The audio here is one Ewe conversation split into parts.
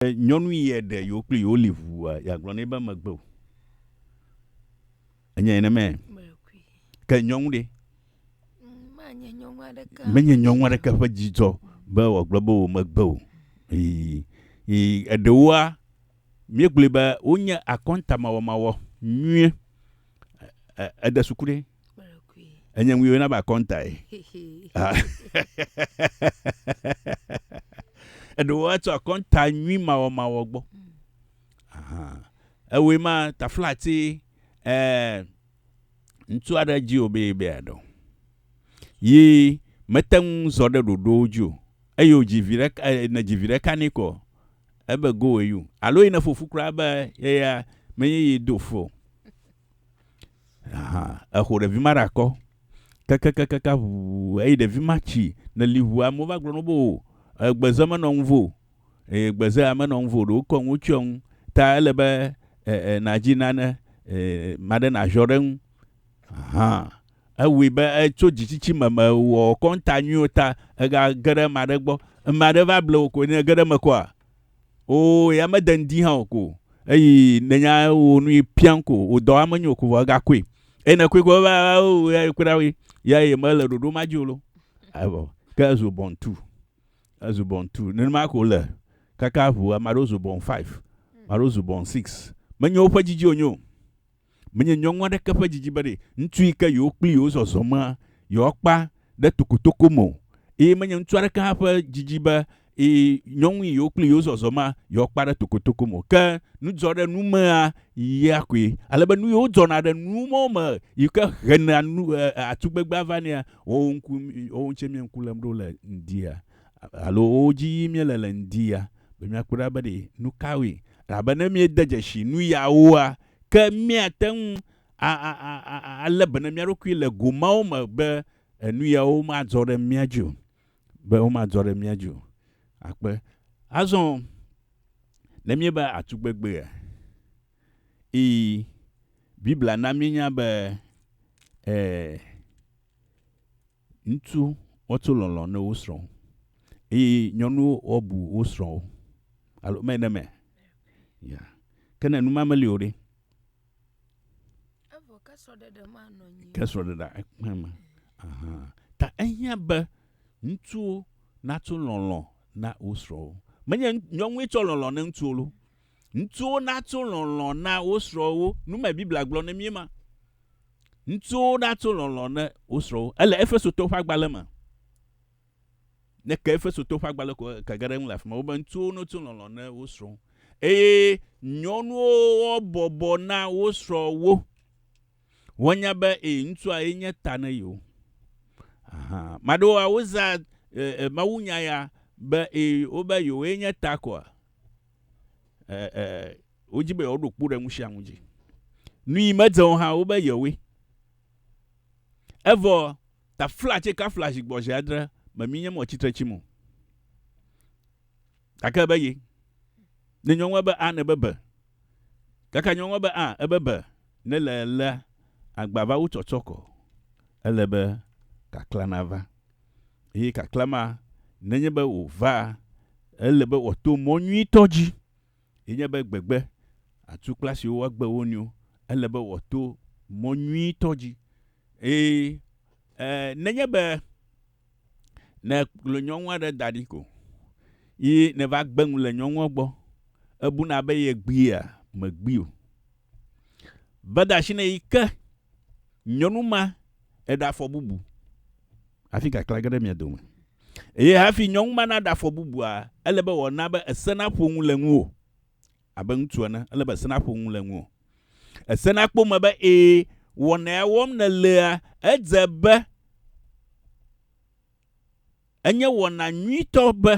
be nyɔnu yɛ ɖe yewo kple yewo li ʋua, yeagblɔ nɛ be megbe o. Enye ene mɛ. Ke nyɔnu ɖe? Menye nyɔnu aɖeke ƒe dzidzɔ be wòagblɔ be wò megbe o. Ii, ii, eɖewoa, míegblɔe be wonye akɔntamawɔmawɔ nyuie. E, e, ede suku ɖe? Enye ŋu yɔna be akɔntae. Eɖewo atsɔ akɔnta nyui mawɔmawɔ gbɔ. Ewoe ma taflati eh, ŋutsu aɖe dzi o be be aɖo. Yi mete ŋu zɔ ɖe ɖoɖowo dzi o. Eye wodzi vi ɖeka, eh, ne dzi vi ɖeka nɛ kɔ. Ebe go wɔ you. Alo yi ne fofu kura be yeya menye yi do fo. Aha, exo ɖevi ma ɖe akɔ. Kakakakaka ʋuu eyi ɖevi ma tsi ne li ʋuu. Amewo va gblɔ na wo be o egbeze menɔ ŋuvo o. Eye gbezea menɔ ŋuvo o ɖe wokɔ nu tsyɔ ŋu. Ta ele be e e nadzi nane e ame aɖe naziɔ ɖe eŋu. Aha, ewui be etso dzitsitsi me mewɔ kɔnta nyuiwo ta egage ɖe ame aɖe gbɔ. Ame aɖe va ble wò koe ne ege ɖe eme kɔa Oo, ya mede ŋdi hã o ko. Eyi nenya wo nu pian ko, wo dɔ ame nyo ko vɔ ega koe. Eyi ne koe ko va o ya koe ɖawe. Ya ye mele ɖoɖo ma dzi o lo. Evɔ ke ezu bɔn tu. Ezu bɔn tu. Nenema ko le kaka ʋu ame aɖewo zu bɔn 5. Ame aɖewo zu bɔn 6. Menyo woƒe dzi dzi o nyo. Menye nyɔnu aɖeke ƒe didi bene ŋutsu yi ke yewo kpli yewo zɔzɔmea, yewoakpa ɖe tokotoko me o, eye menye ŋutsu aɖeke hã ƒe didi be nyɔnu yi yewo kpli yewo zɔzɔmea, yewoakpa ɖe tokotoko me o. Ke nudzɔɖenumea ya koe, ale be nu yiwo dzɔna ɖe nu mawo me yi ke hena nu, e, e, atugbegbe ava nɛa, woawo ŋku, woawo ŋutsɛ míeŋku lém ɖo le ŋdia? alo wo dzi yim míele le ŋdi ya, be míakpɔe ɖa be ɖe nu kawoe. Elabe ne míede dzesi nu yawoa, ke míate ŋu alé be na mía ɖokui le go mawo me be enu yawo madzɔ ɖe mía dzi o, be womadzɔ ɖe mía dzi o. Akpe. Azɔ ne míeva atugbegbea, ii, Biblia na míenya be, e, Ŋutsu woato lɔlɔ̃ ne wo srɔ̃ eye nyɔnuwo woabu wo srɔ̃wo. Alo me ɖe me? Ya. Ke ne nu ma meli o ɖe? Evɔ ke srɔ̃ɖeɖe ma nɔ anyi. Ke srɔ̃ɖeɖe ekpe me. Aha. Ta ehiã be ŋutsuwo nato lɔlɔ̃ na wo srɔ̃wo. Menye nyɔnue tsɔ lɔlɔ̃ ne ŋutsuwo lo. Ŋutsuwo natso lɔlɔ̃ na wo srɔ̃wo. Nu mae Biblia gblɔ na mí ema. Ŋutsuwo natso lɔlɔ̃ na wo srɔ̃wo. Ele Efesotɔwo ƒe agbalẽ me. Ne èke Efesotɔwo ƒe agbalẽ ko eke ge ɖe eŋu le afi ma. Wobe ŋutsuwo natso lɔlɔ̃ na wo srɔ̃wo. Eye nyɔnuwo woabɔbɔ na wo srɔ̃wo. Woanya be ee, ŋutsua ye nye ta na yewo. Aha, ame aɖewoa, wozãa e, e, mawunya ya be ee, wobe yewoe nye ta koa. eh, wodzi be yewoɖo kpo ɖe nu sia nu dzi. Nui medze o hã wobe yewoe. Evɔ tafla tse kafla zi gbɔ zi adre me mi nye mɔ tsitre tsi mo. Gake be ye. Ne nyɔnua be a ne be be. Kaka nyɔnua be a ebe be ne le lea agbava wo tsɔtsɔ kɔ. Ele be kakla na va. Eye kaklã ma, nenye be wòvaa, ele be wòato mɔ nyuitɔ dzi, ye nye be gbegbe, atukpla siwo woagbe wo nɔewo, ele be wòato mɔ nyuitɔ dzi. Eye e, nenye be ne ekplɔ nyɔnu aɖe da ɖi ko, ye nèva gbe nu le nyɔnua gbɔ, ebuna be yegbea, megbee o. Beda asi nɛ yi ke nyɔnu ma eɖe afɔ bubu hafi kaklã ge ɖe mia dome. Eye hafi nyɔnu ma naɖe afɔ bubua, ele be wòana be ese naƒo nu le ŋuwò. Abe ŋutsu ene, ele be ese naƒo nu le ŋuwò. Ese nakpɔ eme be, ẽ, wɔna ya wɔm nèlea, edze be enye wɔna nyuitɔ be.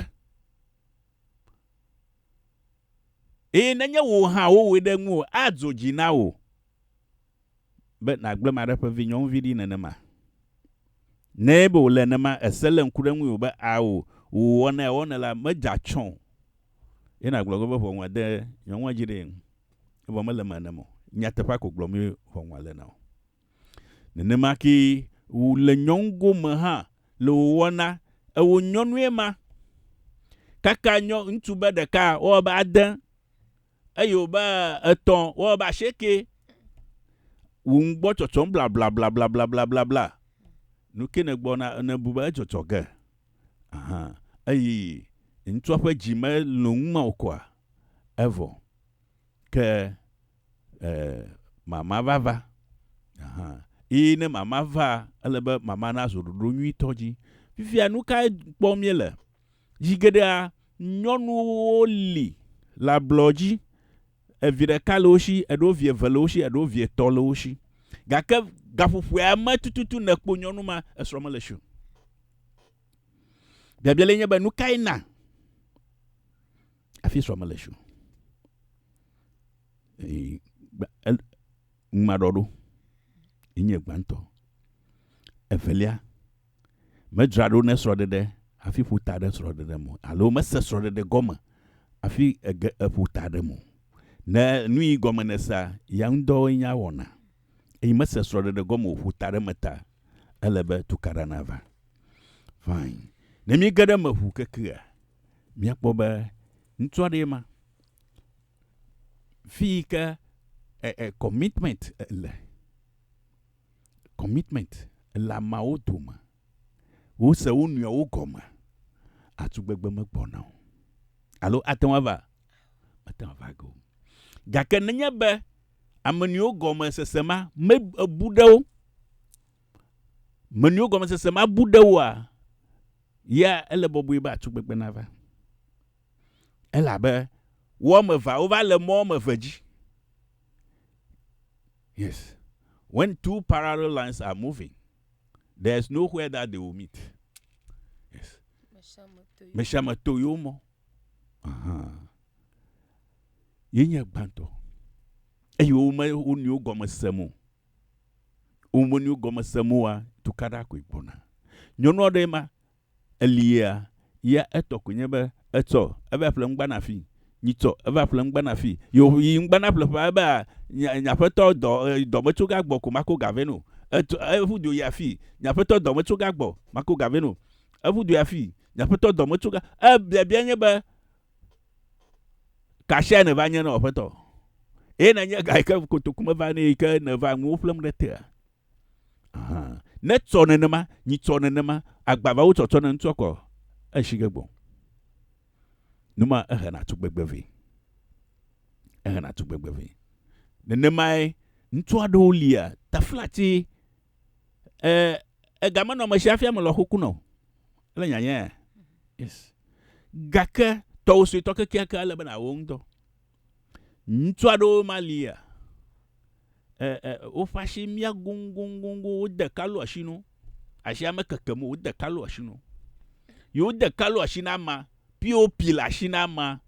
Eye nenye wò hã wowɔe ɖe ŋuwò adzo dzi na wò be nàgblẽ maɖe ƒe vinyɔnuvi ɖi nenema. Ne ebe wòle nenema ese lé ŋku ɖe ŋuiwò be ao wò wɔna ya wɔnɛ la medze atsɔ̃ o ye nàgblɔ ge be ʋɔnua de nyɔnua dzi ɖee, evɔ mele eme nenem o. Nyateƒea ko gblɔm ye ʋɔnua le na o. Nenema kee wòle nyɔnu gome hã le wòwɔ na ewo nyɔnue ma. Kaka nyɔ, ŋutsu be ɖeka, wowɔ be ade, eyo be etɔ̃, wowɔ be ashieke. Wò ŋu gbɔ tsɔtsɔm blablablablablablabla. Nu ke nègbɔ na, nèbu be edzɔdzɔ ge. Aha, eyi ŋutsua ƒe dzi me lɔ̃ ŋu ma o koa, evɔ. Ke Ɛɛ, mama va va. Aha. Eye ne mama va, ele be mama nazu ɖoɖo nyuitɔ dzi. Fifia nu kae kpɔm míele? Zi geɖea, nyɔnuwo li le ablɔ dzi. Evi ɖeka le wo si, eɖewo vi eve le wo si, eɖewo vi etɔ̃ le wo si. Gake gaƒoƒoea me tututu nèkpɔ nyɔnu ma, esrɔ̃ mele esi o. Biabia lae nye be, nu kae na? Afi srɔ̃ mele tso. Ŋumaɖɔ ɖo. Enye gbãtɔ. Evelia, medzra ɖo ne srɔ̃ɖeɖe hafi ƒo ta ɖe srɔ̃ɖeɖe me alo mese srɔ̃ɖeɖe gɔme hafi ege eƒo ta ɖe me. Ne nu yi gɔme nèsea, ya ŋudɔwoe nye awɔna. Eye mese srɔ̃ɖeɖe gɔme o, ƒo ta ɖe eme ta. Ele be tukaɖa nava. Fine. Ne míege ɖe eme ŋu kekea, míakpɔ be ŋutsu aɖee ma. Fi yi ke e, e, commitment le. Commitment le ameawo dome. Wose wo nɔewo gɔme. Atugbegbe megbɔna o. Alo ate ŋu ava? Mate ŋu ava ge o. Gake nenye be Ame nɔewo gɔme sese ma me ebu ɖe wo. Me nɔewo gɔme sese ma bu ɖe woa, ya ele bɔbɔe be atu gbegbe nava. Elabe wo ame evea wova le mɔ ame eve dzi. Yes. When two parallel lines are moving, there is nowhere that they will meet. Yes. Meshame to yo mo. Uh -huh. ye nye gbãtɔ eye wome wo nɔewo gɔme sem o. Wo me nɔewo gɔme sem oa, tukaɖa koe gbɔna. Nyɔnu aɖee ma, elia, ya etɔ koe nye be etsɔ eva ƒle ŋgba na fii, nyitsɔ eva ƒle ŋgba na fii. Ye wòyi ŋgba na ƒle ƒea ebe a, nye, nye aƒetɔ dɔ, dɔ metso ga gbɔ ko mako ga vɛ no. Etso, eƒu du yi afii, nye aƒetɔ dɔ metso ga gbɔ, mako ga vɛ no. Eƒu du yi afii, nye aƒetɔ dɔ metso ga, ebiabia nye be, Kasia nèva nye na wò aƒetɔ. Eye nenye ga yi ke kotoku meva nɛ yi ke nèva nuwo ƒlem ɖe tea. Netsɔ nenema, nyitsɔ nenema, agbavawo tsɔtsɔ ne ŋutsɔ kɔ eshi ge gbɔ. Numa ehena tugbegbe vɛ. Ehena tugbegbe vɛ. Nenemae ŋutsu aɖewo lia taflatsi e egamenɔmesi hafi ame lɔ xoku nɔ. Ele nyanya ya? Yes. Gake tɔwò suetɔ kekeake ele be nàwɔ ŋutɔ. Ŋutsu aɖewo ma lia, e, e, woƒe asi mia goŋgoŋgoŋgo, wode kalu asi no, asia mekeke mo, wode kalu asi no. Yi wode kalu asi na ama, pi wopi le asi na ama.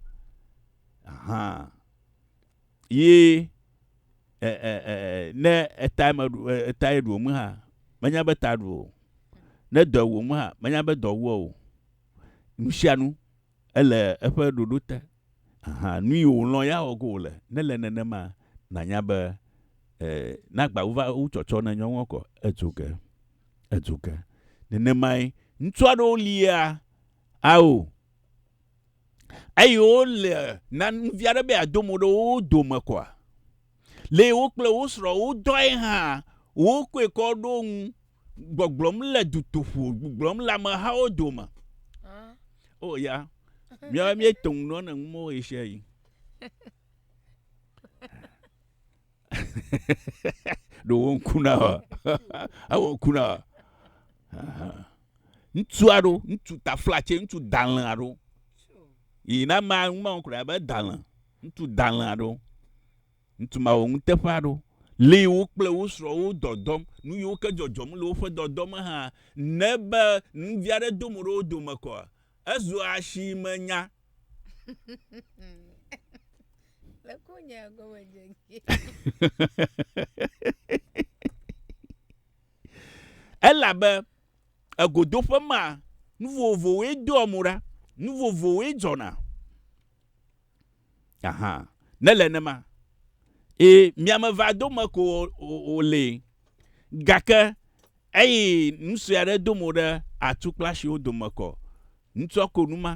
Aha. ye ne eta me eta ye ɖuo mu hã menya be ta ɖuo ne dɔ wɔ mu hã menya be dɔ wɔ o nusianu ele eƒe ɖoɖo te aha nu yi wòlɔ ya wɔ go wòle ne le nenema nanya be e nagba wova wu tsɔtsɔ ne nyɔnua kɔ edzo ge edzo ge nenemae ŋutsu aɖewo lia ao eye wole na nuvia ɖe be ado mo ɖe wo dome kɔa? Le wo kple wo srɔ wo dɔe hã wo koe kɔ ɖo ŋu gbɔgblɔm le dutoƒo gbɔgblɔm le amehawo dome. O oh, ya, míawo míetɔ ŋu nɔ ne ŋumɔ wo esia yi. ɖo wo ŋku na wa ewo ŋku na wa ŋutsu aɖo ŋutsu taflatse ŋutsu dalẽ aɖo yi na ma ma ŋku na be dalẽ ŋutsu dalẽ aɖo ŋutsu ma wo ŋuteƒe aɖo li wo kple wo srɔ̃ wo dɔdɔm nu yiwo ke dzɔdzɔm le woƒe dɔdɔ me hã ne be ŋdi aɖe do mo ɖe wo dome kɔa ezu asimenya Elabe egodoƒe ma, nu vovovowoe doa mo ɖa, nu vovovowoe dzɔna. Aha, ne le nema. Ee, miame va dome ko wòle. Gake eyi nu sue aɖe do mo ɖe atukplasiwo dome kɔ. Ŋutsua ko nu ma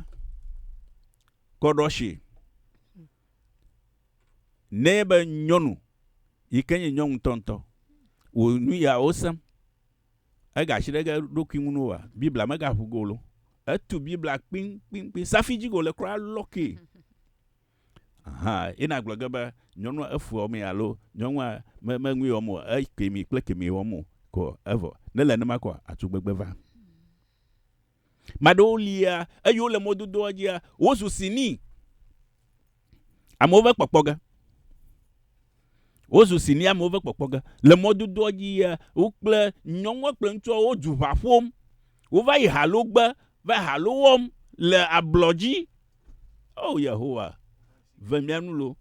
kɔ ɖo asi nɛ be nyɔnu yi ke nye nyɔnu ŋutɔŋutɔ wò nu ya wosem. Ega asi ɖe ge ɖokui ŋu noa? Biblia mega ʋu go lo. Etu Biblia kpinkpinkpi safi dzi go le kura lɔ ki. Aha, ye na gblɔ ge be nyɔnua efu ɔme alo nyɔnua me me nui wɔm o, ekemi kple kemi wɔm o ko evɔ. Ne le ne ma koa atu gbegbe va. Ame aɖewo lia eye wole mɔdodoa dzia, wozu sini amewo va kpɔkpɔ ge. Wozu sini amewo va kpɔkpɔ ge. Le mɔdodoa dzia, wo kple nyɔnua kple ŋutsua wo du ʋa ƒom. Wova yi halo gbe, va halo wɔm le ablɔ dzi. O Yehowa, ve mía nu loo.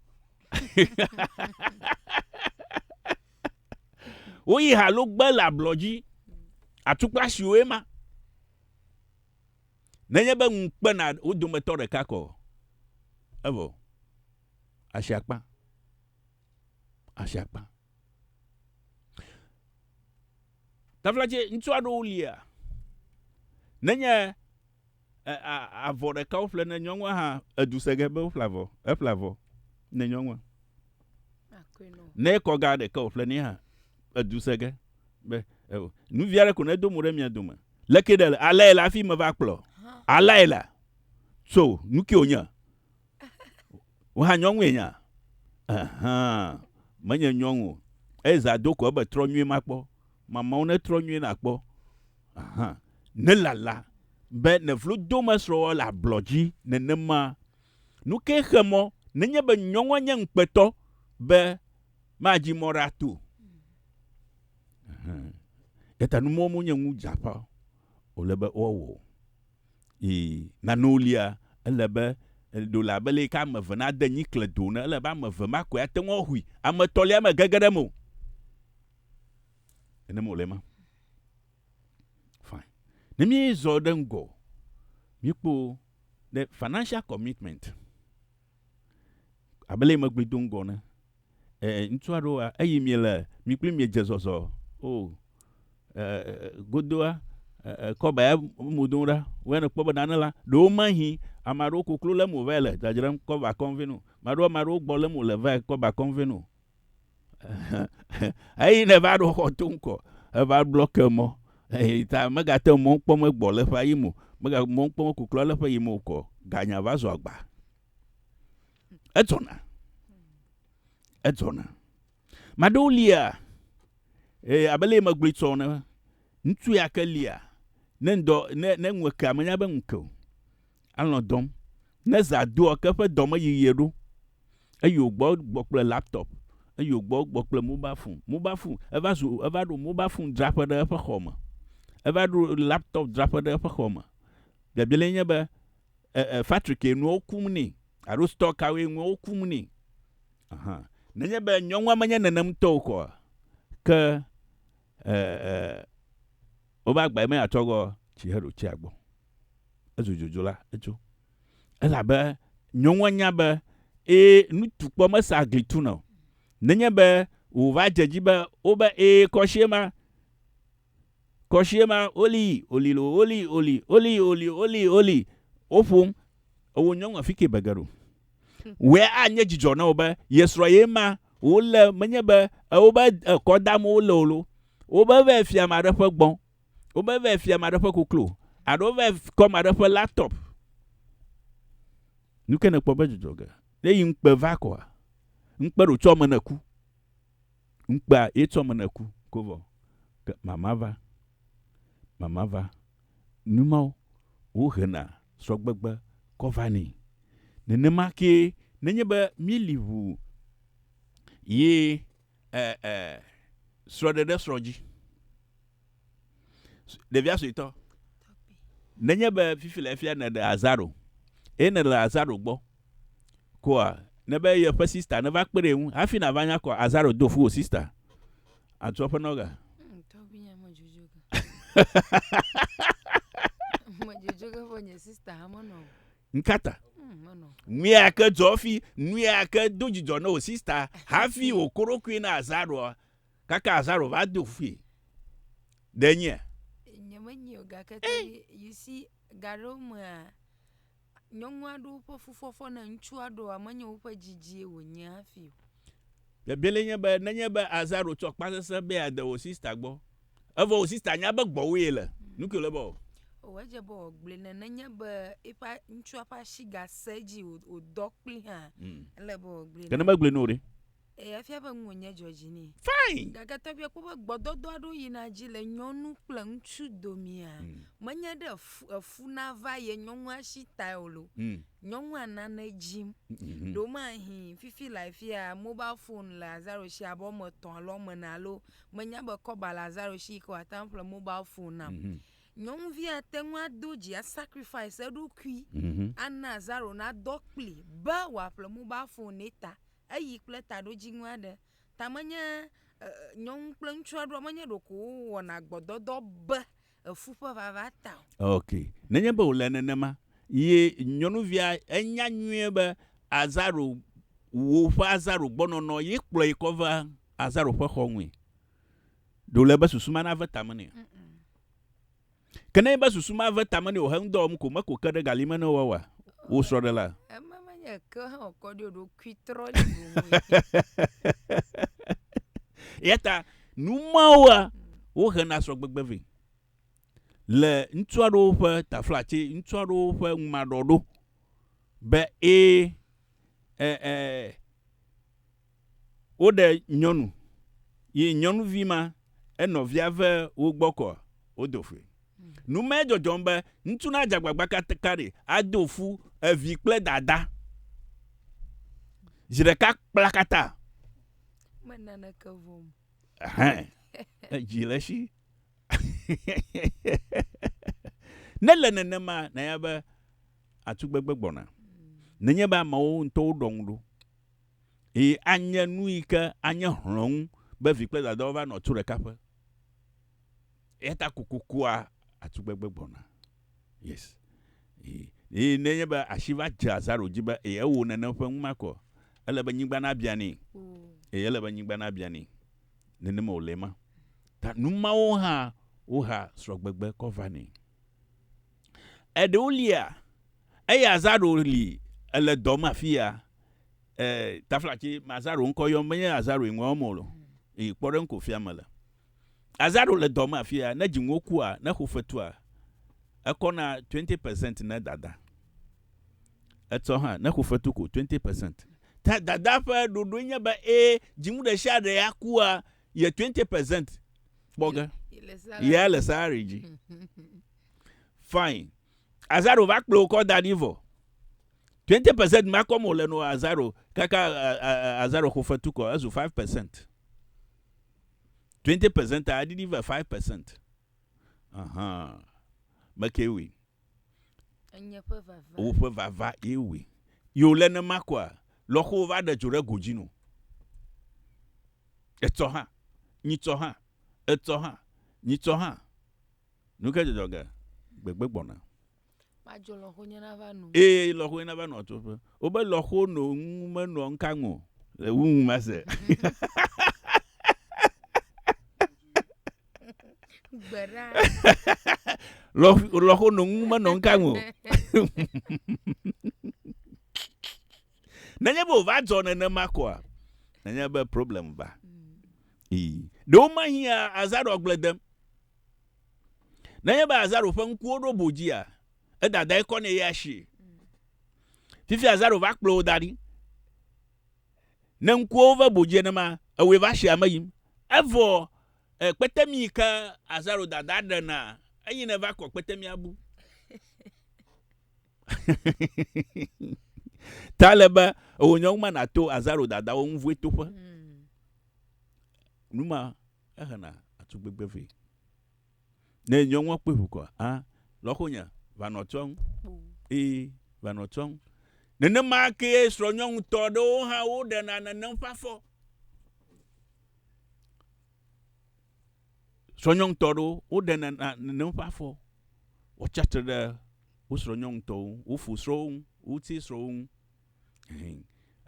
Woyi ha lo gbe le ablɔ dzi. Atukpa siwoe ma. Nenye be ŋu kpena wo dometɔ ɖeka kɔ, evɔ. Asi akpa. Asi akpa. Taflatse, ŋutsu aɖewo lia, nenye E, a, avɔ ɖeka woƒle ne nyɔnua hã edu se ge be woƒle avɔ, eƒle avɔ ne nyɔnua. Ne ekɔ ga ɖeka woƒle ne hã edu se ge be eo. Nuvi aɖe ko ne do mo ɖe mia dome. Leke ɖe le alae le afi me va kplɔ. Alae la. So nu ke wonye. Wohã nyɔnue nya. Ahan. Menye nyɔnu. Eza do ko ebe trɔ nyuie makpɔ. Mamawo ne trɔ nyuie nakpɔ. Hã. Nèlala be nèvlo domesrɔ̃wɔwɔ le ablɔ dzi nenema. Nu kae xe mɔ nenye be nyɔnua nye ŋukpetɔ be madzi mɔ ɖe ato? Hã. Eya ta numɔwo monye nu dzeaƒã wòle be woawɔ o. Eye nanewo lia, ele be ɖo le abe leke ame eve nade nyi kle do ene, ele be ame eve ma koe ate ŋu ahui, ame etɔ̃lia megege ɖe eme o. Nenem wòle ema. Fine. Ne míezɔ ɖe ŋgɔ, míekpɔ ɖe financial commitment. Abele megbe do ŋgɔ ne. Eh, ŋutsu aɖewoa, eyi mi le, mi kple mi dze zɔzɔ. Oh, eh, godoa, eh, kɔba ya mo do ɖa. Wɔe ne kpɔ be nane la, ɖewo mahi, ame aɖewo koklo le mo va le dzadzram kɔba kɔnvenu. Maɖewo, maɖewo gbɔ le mo le va kɔba kɔnvenu. eyi ne va ɖo xɔ to ŋkɔ eva blɔ ke mɔ eyi ta megate mɔ kpɔm egbɔ le ƒe yi mo mega mɔ kpɔm kuklɔ le ƒe yi mo kɔ ganya va zɔ agba edzɔna edzɔna maɖewo lia e abele megblɔ tsɔ ne ŋutsu ya ke lia ne ŋdɔ ne ne ŋu ekea menya be ŋu ke o Alɔ̃ dɔm. Ne zã doa, ke eƒe dɔ me yiɣie ɖo, eyi wo gbɔ gbɔ kple laptop, eyi wo gbɔ gbɔ kple mobile phone. Mobile phone, eva zu, eva ɖo mobile phone dzraƒe ɖe eƒe xɔ me. Eva ɖo laptop dzraƒe ɖe eƒe xɔ me. Biabialae nye be, e, e, factory ke nuawo kum nɛ alo store kawoe nuawo kum nɛ. Ahan. Nenye be nyɔnua menye nenem ŋutɔ o koa, ke, e, e, wova gbae be yeatrɔ gbɔ tsi heɖo tsia gbɔ. Ezu dzodzo la, etso. Elabe nyɔnua nya be, ẽ, nutukpɔ mesea gli tuna o. Nenye be wòva dze edzi be wobe, ẽ, kɔshie ma, kɔshie ma, olii, olilo, olii, oli, olii, oli, olii, oli, woƒom, ewɔ nyɔnua fike be geɖo. Wɔe anye dzidzɔ na wò be yesrɔ̃ ye ma wole, menye be, ẽ, wobe, ẽ, kɔ dam wole o lo. Wobe vɛ fia ame aɖe ƒe gbɔ̃. Wova vae fia ame aɖe ƒe koklo alo wova kɔ ame aɖe ƒe laptop. Nu ke nèkpɔ be dzudzɔ ge. Ne yi ŋukpe va kɔa, ŋukpe ɖo tsɔ me ne ku. Ŋukpea ye tsɔ me ne ku ko vɔ. Ke mama va, mama va. Nu mawo wohena srɔ̃gbegbe kɔ va nɛ. Nenema kee nenye be míeli ŋu ye e e srɔɖeɖe srɔ dzi ɖevia suetɔ nenye be fifi le efia ne ɖe azaro ye ne le azaro gbɔ koa ne be ye ƒe sista ne va kpeɖe ŋu hafi na va nya kɔ azaro do fu o sista atu eƒe nɔga Ŋkata. Nuya ke dzɔ fi, nuya ke do dzidzɔ na wò sista hafi wòko ɖokui na Azaro kaka Azaro va do fui. Ɖe nyea? Nye menye o gake ke eh. you see gaɖewo mea nyɔnu aɖewo ƒe fufɔfɔ na ŋutsu aɖewoa menye woƒe dzidzie wònye hafi o. Bebele nye be nenye be Azaro tsɔ kpasese be yeade wò sista gbɔ Evɔ wò sista nya be gbɔwò ye le. Nuke wòle be wɔ. O edze be wògblɔe ne nenye be eƒe ŋutsua ƒe asi gasẽ edzi wòdɔ kpli hã. Mm. Ele be wògblɔe ne. Ke ne megblɔe ne o ɖe. Eye efia be ŋuwò nye dzɔdzi nɛ. Fine. Gake tɔgbuia kpɔ be gbɔdɔdɔ aɖewo yina edzi le nyɔnu kple ŋutsu domea. Mm. Menye ɖe efu, efu nava ye nyɔnua si tae o lo. Mm. Nyɔnua nane dzim. Mm -hmm. Ɖewo mahin fifi le afia mobile phone le Azaro si abe wɔme etɔ̃ alo wɔme ene alo. menya be kɔba le Azaro shi ke wòate ŋu aƒle mobile phone nam. Mm -hmm. Nyɔnuvia ate ŋu ado dzi asacrifice eɖokui mm -hmm. ana Azaro nadɔ kpli be wòaƒle mobile phone ne ta eyi kple taɖodzinu aɖe. Ta menye uh, nyɔnu kple ŋutsu aɖewo menye ɖeko wowɔna gbɔdɔdɔ be efu ƒe vava ta o. Ok. Nenye be wòle nenema, ye nyɔnuvia enya nyuie be Azaro, wò ƒe Azaro gbɔnɔnɔ ye kplɔe kɔ va Azaro ƒe xɔ ŋui. Ɖe wòle be susu ma nave tame nɛ? Ke nenye be susu ma ve tame nɛ wòhe ŋudɔ wɔm ko meko ke ɖe gali me ne woawa wò srɔ̃ɖela. Ema menye eke hã wòkɔ ɖi o, ɖokuitrɔli boŋue. Eyata Nu mawoa, wohena srɔ̃gbegbe vɛ le ŋutsu aɖewo ƒe tafla tse ŋutsu aɖewo ƒe ŋumaɖɔ ɖo be ẽ ẽ ẽ woɖe nyɔnu ye nyɔnuvi ma enɔvia ve wo gbɔ kɔ wodo fui. Nu mae dzɔdzɔm be ŋutsu na dze agbagba kaɖi ado fu evi kple dada zi ɖeka kplakata Ɛhɛn. Edzi le esi. ne le nenema, nanya be atugbegbe gbɔna. Nenye be amewo ŋutɔwo ɖɔ ŋu ɖo. Eye anye nu yi ke anye hlɔ̃nu be vi kple dadawo va nɔ tu ɖeka ƒe. Eya ta kokokua atugbegbe gbɔna. Yes. Eye ne nye be asi va dze Lazaro dzi be eye ewɔ nane ƒe ŋu makɔ, ele be nyigba na bia nɛ. Eye ele be nyigba na bia nɛ. Nenema wòle ma. Ta numawo hã woha srɔgbegbe kɔ va nɛ. Eɖewo lia, eye Lazaro li ele dɔ me afia, eh, taflatsi Lazaro ŋkɔ yɔm be nye Lazaro yi ŋua wɔm wòle. Eye kpɔ ɖe ŋko fia mele. Lazaro le dɔ me afia, ne dziŋuwo kua, ne xo fetua, ekɔ na twenty percent ne dada. Etsɔ hã, ne xo fetu ko, twenty percent. Ta dada ƒe ɖoɖoe nye be ẽ, dziŋu ɖe sia ɖe akua, ye twenty percent kpɔ ge. Yea le salary dzi. Fine. Lazaro va kplɔe wokɔ da ɖi vɔ. Twenty percent ma kɔm wòle no Lazaro kaka Lazaro xo fetu kɔ, ezu five percent. Twenty percent a eɖiɖi va five percent. Ahan. Mekee wui. Enye ƒe vava. Woƒe vava ye wui. Ye wòle nema koa, lɔxowo va ɖe dzo ɖe go dzi no. Etsɔ hã. Nyitsɔ hã. Etsɔ hã. Nyitsɔ hã. Nu ke dzɔdzɔ ge? Gbegbe gbɔna. Madzo lɔ̃xonye nava no. Ee, lɔ̃xonye nava nɔ atsoƒe. Wobe lɔ̃xo no ŋu menɔa ŋkaŋ o le wu ŋu mase. Gbeɖa. Lɔ̃xo no ŋu menɔ ŋkaŋ o. Nenye be wòva dzɔ nenema koa, nenye be problem va. Ii. Ɖewo mahiã azã ɖe agble dem. Nenye be Azaro ƒe ŋkuwo ɖo bo dzia, edadae kɔ nɛ ya sie. Fifia Azaro va kplɔ wò da ɖi. Ne ŋkuwo ve bo dzi enema, ewɔe va sie ame yim. Evɔ e kpetemi ke Azaro dada ɖena eyi ne va kɔ kpetemia bu. Ta le be ewò nyɔnu ma nato Azaro dadawo ŋu vue toƒe. Hmm. Numa. Ehena atugbegbe vɛ. Ne nyɔnua kpɔe ʋu kɔa, a, lɔxonya, va nɔ tsɔm. Ẽ, va nɔ tsɔm. Nenema kee srɔ̃nyɔnutɔ aɖewo hã woɖena nenem ƒe afɔ. Srɔ̃nyɔnutɔ aɖewo woɖena nenem ƒe afɔ. Wotsi atsitre ɖe wo srɔ̃nyɔnutɔwo ŋu, wo fosrɔ̃wo ŋu, wo ŋutisrɔ̃wo ŋu.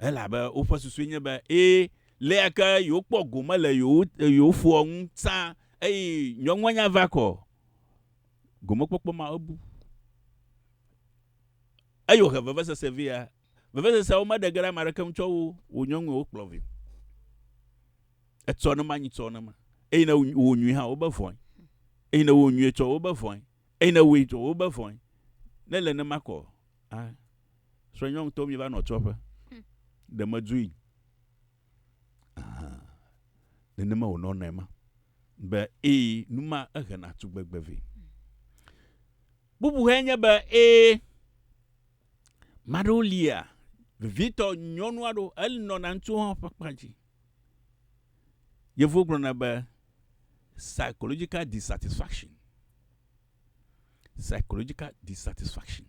Elabe woƒe susue nye be, ẽ, leke yewokpɔ gome le yewo, yewo foa ŋu tsã eye nyɔnua nya va kɔ. Gomekpɔkpɔ ma ebu. Eye wòhe vevesese vɛ ya. Vevesesea womeɖe ge ɖe ame aɖeke ŋu tsɔ wo, wò nyɔnue wokplɔ vɛ. Etsɔ ne manyi tsɔ ne ma. Eye ne wò nyui hã, wobe vɔe. Eye ne wò nyuie tsɔ, wobe vɔe. Eyi ne woe dzɔ wobe vɔe. Ne le ne makɔ, a srɔe nyɔnu to mi va nɔ tsɔ ƒe. Ɖe me dzui. Ne ne me wonɔ nɛ ma. Be e numa ehe na tu gbegbe ve. Bubu he nye be e maɖo lia vevitɔ nyɔnua ɖo el nɔ na ŋutsu hã ƒe kpa dzi. Yevuwo gblɔna be psychological dissatisfaction, psychological dissatisfaction.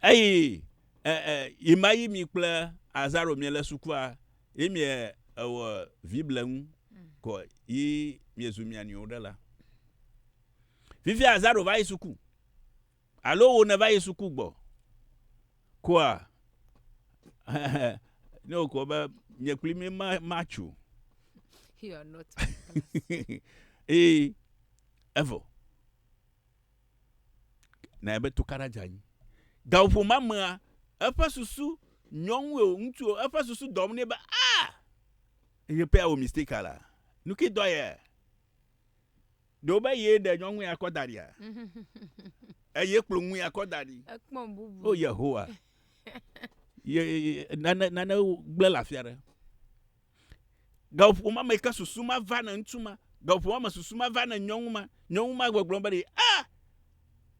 Eyi eh, eh, ima yi mi kple azaro mie le sukua yi mie ewɔ vible ŋu kɔ yi mie zu mia nio ɖe la. Vivi azaro va yi suku. Alo wò nèva yi suku gbɔ koa? Ne wòkɔ be nye kpli mi ma matso. You are not. Ee, evɔ. Na ebe tukaɖa dze anyi. Gaƒoƒo ma mea, eƒe susu nyɔnu o, ŋutsu o, eƒe susu dɔm nɛ be, ah! Ye pea wò mistake la, nu ke dɔ yɛ. Ɖewo be ye ɖe nyɔnue akɔ da ɖia? Eye kplɔ ŋue akɔ da ɖi. Ekpɔ bubu. O Yehowa. Ye nane nane gblẽ le afi aɖe. Gaƒo ma me ke susu ma va ne ŋutsu ma. Gaƒo ma me susu ma va ne nyɔnu ma. Nyɔnu ma gbɔgblɔ be ɖi a ah!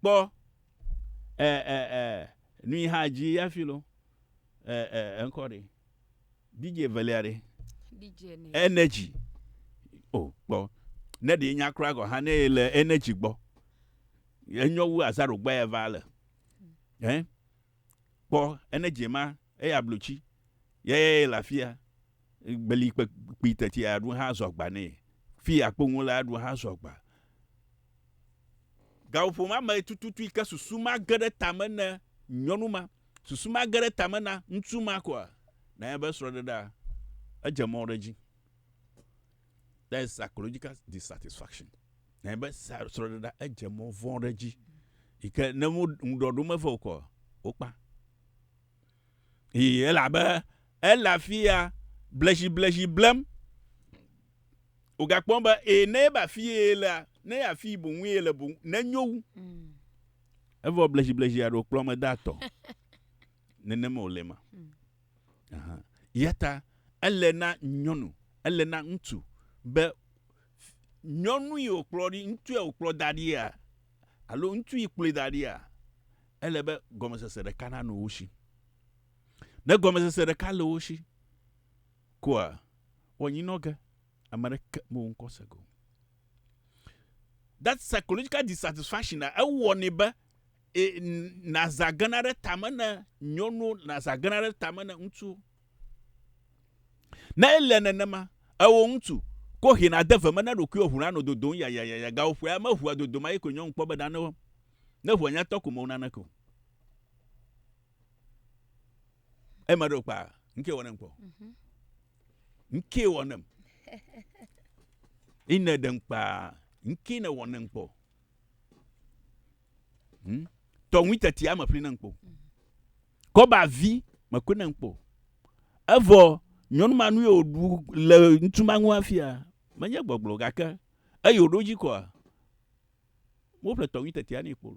kpɔ ɛ ɛ ɛ nu yi hã dzi ya fi lo. Ɛ ɛ ŋkɔ ɖi. DJ evelia ɖe? DJ energy. energy. O, oh, kpɔ. Ne ɖe nya kura gɔ hã ne le energy gbɔ. Enyɔ wu azaro gba ya va le. Hmm. Eh? Kpɔ energy ma eya blotsi. Ye ye le afia. Gbeli kpe kpi teti aɖu hã zɔgba ne. Fi akpo ŋu le aɖu hã zɔgba. Gaƒoƒo ma mee tututui ke susu ma ge ɖe tame ne nyɔnu ma, susu ma ge ɖe tame na ŋutsu ma koa? Na eƒe srɔ̃ɖeɖea, edze mɔ ɖe edzi. That is psychological dissatisfaction. Na eƒe srɔ̃ɖeɖea, edze mɔ vɔ̃ ɖe edzi. Yi ke ne mo ŋuɖɔ ɖom eve o koa, wokpa. Eye elabe ele afi ya bleziblezi blem. Wogakpɔm be e ne ebe afii ye lea, ne afii boŋue yele boŋ nenyo wu. Evɔ bleziblezi aɖewo kplɔ me de atɔ. Nenema wòle ma. Aha. Yata ele na nyɔnu, ele na ŋutsu be nyɔnu yi wòkplɔ ɖi, ŋutsu yi wòkplɔ da ɖia, alo ŋutsu yi kplɔe da ɖia, ele be gɔmesese ɖeka nanɔ wo si. Ne gɔmesese ɖeka le wo si, Koa wɔ nyi nɔ ge ame ɖe ke me wo ŋkɔ se go. That psychological dissatisfaction na ewɔ ne be e, na za gena ɖe tame ne nyɔnuwo, na za gena ɖe tame ne ŋutsuwo. Ne ele nenema, ewɔ ŋutsu, ko he na de ve me na ɖokui wɔ ʋu na nɔ dodom ya ya ya ya ga ƒoe ame ʋua dodom ayi ko nyɔnu kpɔ be ɖa ne wɔ. Ne ʋua nya tɔ ko me wo nane ko. Eye ma ɖo kpa. Nke wɔnem kpɔ. Mhm. Nke wɔnem. Ine ɖem kpa. Nke ne wɔnem kpɔ. Hmm? Tɔnwi teti ame ƒli nem kpɔ. Mhm. Kɔba vi me koe nem kpɔ. Evɔ nyɔnu ma nu yio ɖu le ŋutsu ma ŋu afia. Menye gbɔgblɔ gake eyi woɖo dzi kɔa. Wo ƒle tɔnwi teti ani kpɔ.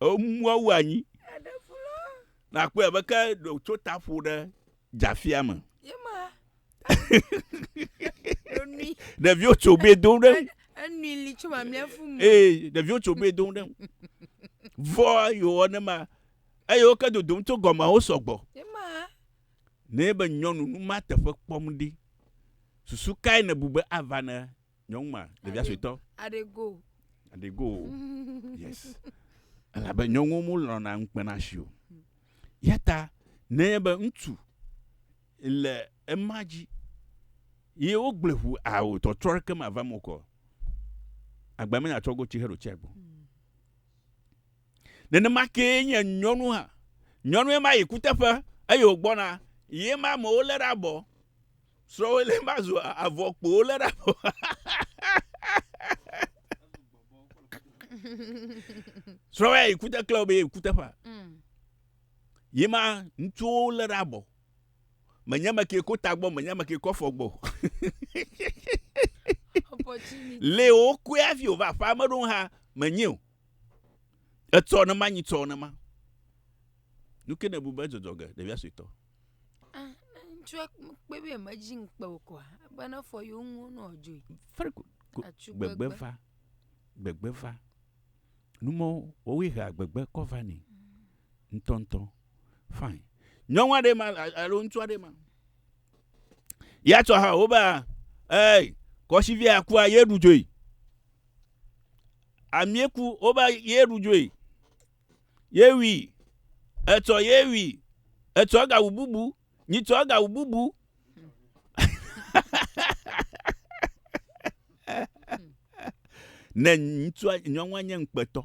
Emua wu anyi. Nàkpɔe abe ke tso ta ƒo ɖe dzafia me. Ɖeviwo tso be dom ɖe. Enui li tso mamlɛ fu mu. Ee, ɖeviwo tso be dom ɖe. Vɔ yewɔ ne ma. Eye wo ke dodom tso gɔme wo sɔgbɔ. Ne be nyɔnu nu ma teƒe kpɔm ɖi. Susu kae nèbu be ava ne Nyɔnu ma, ɖevia suetɔ. Aɖego. Aɖego. Yes. Elabe nyɔnuwo mu lɔna ŋukpena si o. Yata nenye be ŋutsu le ema dzi ye wogblẽ ŋu ao tɔtrɔ ɖeke mava mo kɔ. Agba menya tsɔ go tsi heɖo tsia gbɔ. Nenema kee nye nyɔnu hã. Nyɔnue ma yi kuteƒe eye wògbɔna, ye ma amewo lé ɖe abɔ. Srɔ̃wòe lé ma zu avɔ kpo wolé ɖe abɔ. Srɔ̃wò ya yi kute klẽ wò be ye kuteƒea. Ye ma ŋutsuwo lé ɖe abɔ. Menye ame kee ko tagbɔ, menye ame kee ko afɔ gbɔ. Lé wokɔe hafi wòva aƒea me ɖo hã menye o. Etsɔ ne ma nyi tsɔ ne ma. Nuke ne bu be dzɔdzɔ ge ɖevia sui tɔ. Ah, ŋutsua kpe be me dzi ŋkpe o kɔa, be ne fɔ yewo ŋu nɔ dzoe. Very good. Gbegbe va. Gbegbe va. Numɔ wɔwɔe hea gbegbe kɔ va ni. Ŋtɔntɔ. Fine. Nyɔnua ɖe ma, alo ŋutsua ɖe ma. Ya tsɔ ha wo ba, ei, kɔshivia kua ye ɖu dzoe. Amie ku woba ye ɖu dzoe. Ye wi. Etsɔ ye wi. Etsɔ egawu bubu. Nyitsɔ egawu bubu. ne ŋutsua nyɔnua nye ŋukpetɔ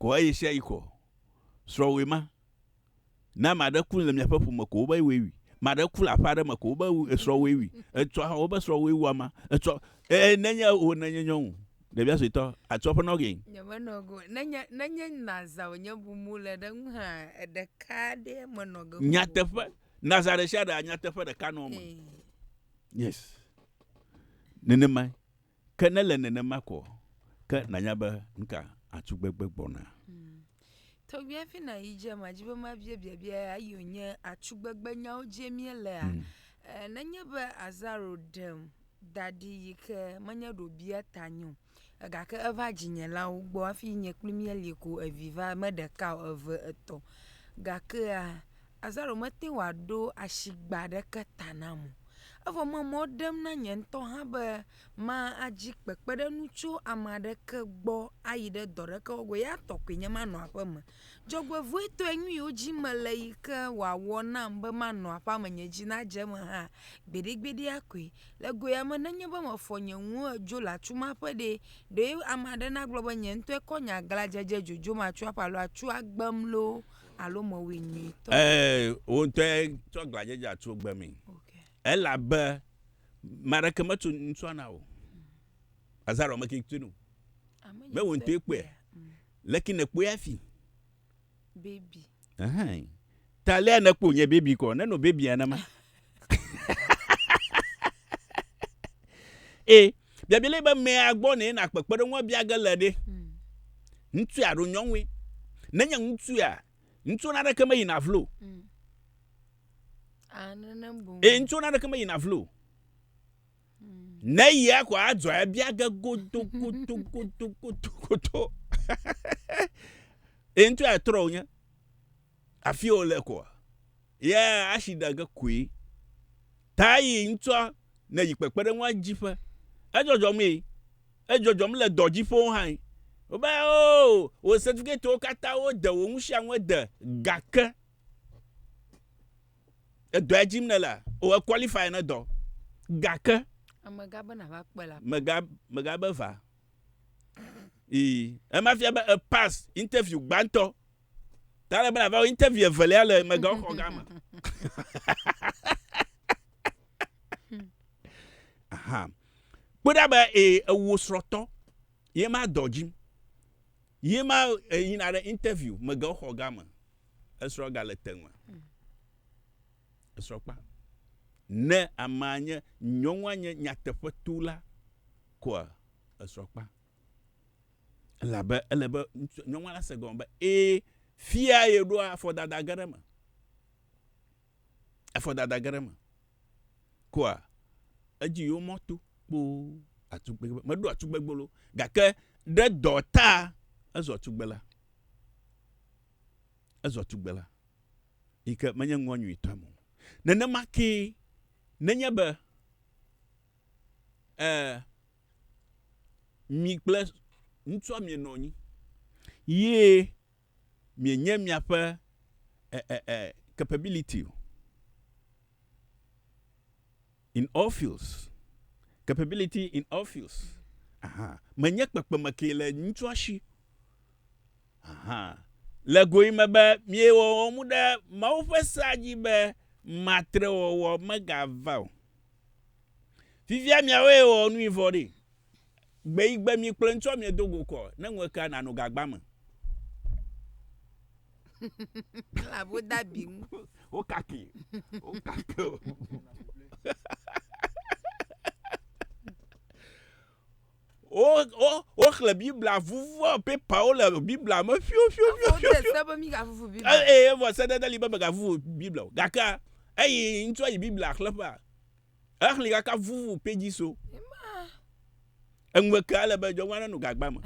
kɔ eyi sia yi kɔ srɔ̃wòe ma. Ne ame aɖe ku le miaƒe ƒome ko wobe woe wui. Ame aɖe ku le aƒe aɖe me ko wobe esrɔ̃ woe wui. Etsɔ hã wobe srɔ̃ woe wu ama. Etsɔ ee nenye wò nenye nyɔnu ɖevia suetɔ atsɔ ƒe nɔ gee. Nyemenɔ go nenye nenye naza wònye bumu le ɖe ŋu hã ɖeka ɖe menɔ ge. Nyateƒe naza ɖe sia ɖe nyateƒe ɖeka nɔ eme. Yes nenemae. Ke ne le nenema ko ɔ, ke nanya be ŋka atu gbegbe gbɔna. Tɔgbi hafi na yi dze ma dzi be ma bia biabia ya yi o nye atu gbegbe nyawo dzi mie le a. Mm. Ne nye be azaro ɖem daɖi yi ke menye ɖo bia ta nyo. Ega ke eva dzi nye la wo gbɔ hafi nye kpli mie li ko evi va me ɖeka o eve etɔ. Ga ke a azaro me te wa ɖo ashi gba ɖe ke ta na mo. Evɔ me mɔ ɖem na nye ŋutɔ hã be madzi kpekpeɖeŋu tso ame aɖeke gbɔ ayi ɖe dɔ aɖeke wɔgbe o. Ya tɔ koe nye manɔ aƒeme. Dzɔgbevɔ̃etɔe nu yiwo dzi mele yi ke wòawɔ nam be manɔ aƒea me nye dzi nadze eme hã gbeɖegbeɖea koe. Le goea me nenye be mefɔ nye nuwo hedzo le atu ma ƒe ɖee, ɖe ame aɖe nagblɔ be nye ŋutɔe kɔ nye aglãdzedze dzodzom atso aƒe alo atso agbem loo, alo mewui nyuitɔ? Ɛɛ, wò ŋutɔe tsɔ glãdzedze tso gbe me. Elabe ame aɖeke metso ŋutsua na wò. Azarɔ me ke tsoe no. Me wò ŋutɔe kpɔe. Mm. Leke nèkpɔe hafi? Bebi. Ɛhɛn. Ta lea nèkpɔ nye bebi kɔ, nenɔ bebi nenema. ee biabia le be mea gbɔ ne na kpekpeɖeŋua bia ge le ɖe hmm. ŋutsu alo nyɔnue nenye ŋutsu ya ŋutsu na ɖeke meyina vlo hmm. ee ŋutsu na ɖeke meyina vlo hmm. ne yia ko adzɔ ya bia ge godo godo godo godo godo ee ŋutsu ya trɔ wonye. Afie o le koa? Ye ashi ɖa ge koe. Ta yi ŋtsɔa ne yi kpekpeɖeŋua dzi ƒe. Edzɔdzɔm ye. Edzɔdzɔm le dɔ dzi ƒewo hãe. Wo be, Oo, wo certificate wo kata wo de wo ŋusiaŋue de gake edɔɛ dzim ne lea, o e qualify ne dɔ. Gake. Mega be na va kpe la. Mega, mega be va. Ii, ema fia be e pass interview gbãtɔ. Ta le be nava wɔ interview evelia le megawɔxɔ gã me. Aha. Kpɔ ɖa be ee ewo srɔ̃tɔ ye ma dɔ dzi. Ye ma yina ɖe interview megawɔxɔ gã me. Esrɔ̃ ga le te me. Esrɔ̃ kpa. Ne amea nye nyɔnua nye nyateƒetula koa esrɔ̃ kpa. Elabe ele be ŋutsu, nyɔnua nase gɔme be ẽ, fia ye ɖoa afɔdada ge ɖe eme. Afɔdada ge ɖe eme. Kua edzi yio mɔ to kpoo atugbegbe be, meɖoa tugbegbe loo gake ɖe dɔ ta ezɔ tugbela. Ezɔ tugbela yi ke menye ŋua nyuitɔ me o. Nenema kee nenye be, ẽ, mi kple ŋutsua mienɔ anyi ye mienye miaƒe eh, eh, eh, capability in all fields. Capability in all fields. Aha. Menye kpekpeme ke le ŋutsua si. Aha. Le goe me be miewɔ wɔmu ɖe Mawu ƒe sea dzi be matrewɔwɔ megava o. Fifia miawoe ewɔ nui vɔ ɖe. Gbe yi gbe mi kplɔe ŋtsɔ mie dogo kɔ ne ŋuekea nano gagba me. Ela bo da bi ŋu. Wo kaki. Wo kaki. Wo wo wo xle Biblia vuvu pepa wo le Biblia me fiu fiu fiu fiu. Wo teste be mi ga vuvu Biblia. Eh eh vɔ sedede li be mega vuvu Biblia. Gaka. Eyi ŋtsɔ yi Biblia xle pa. Exli kaka vuvu pedzi so. Eŋueke ale be dzɔnwa nenu gagba me.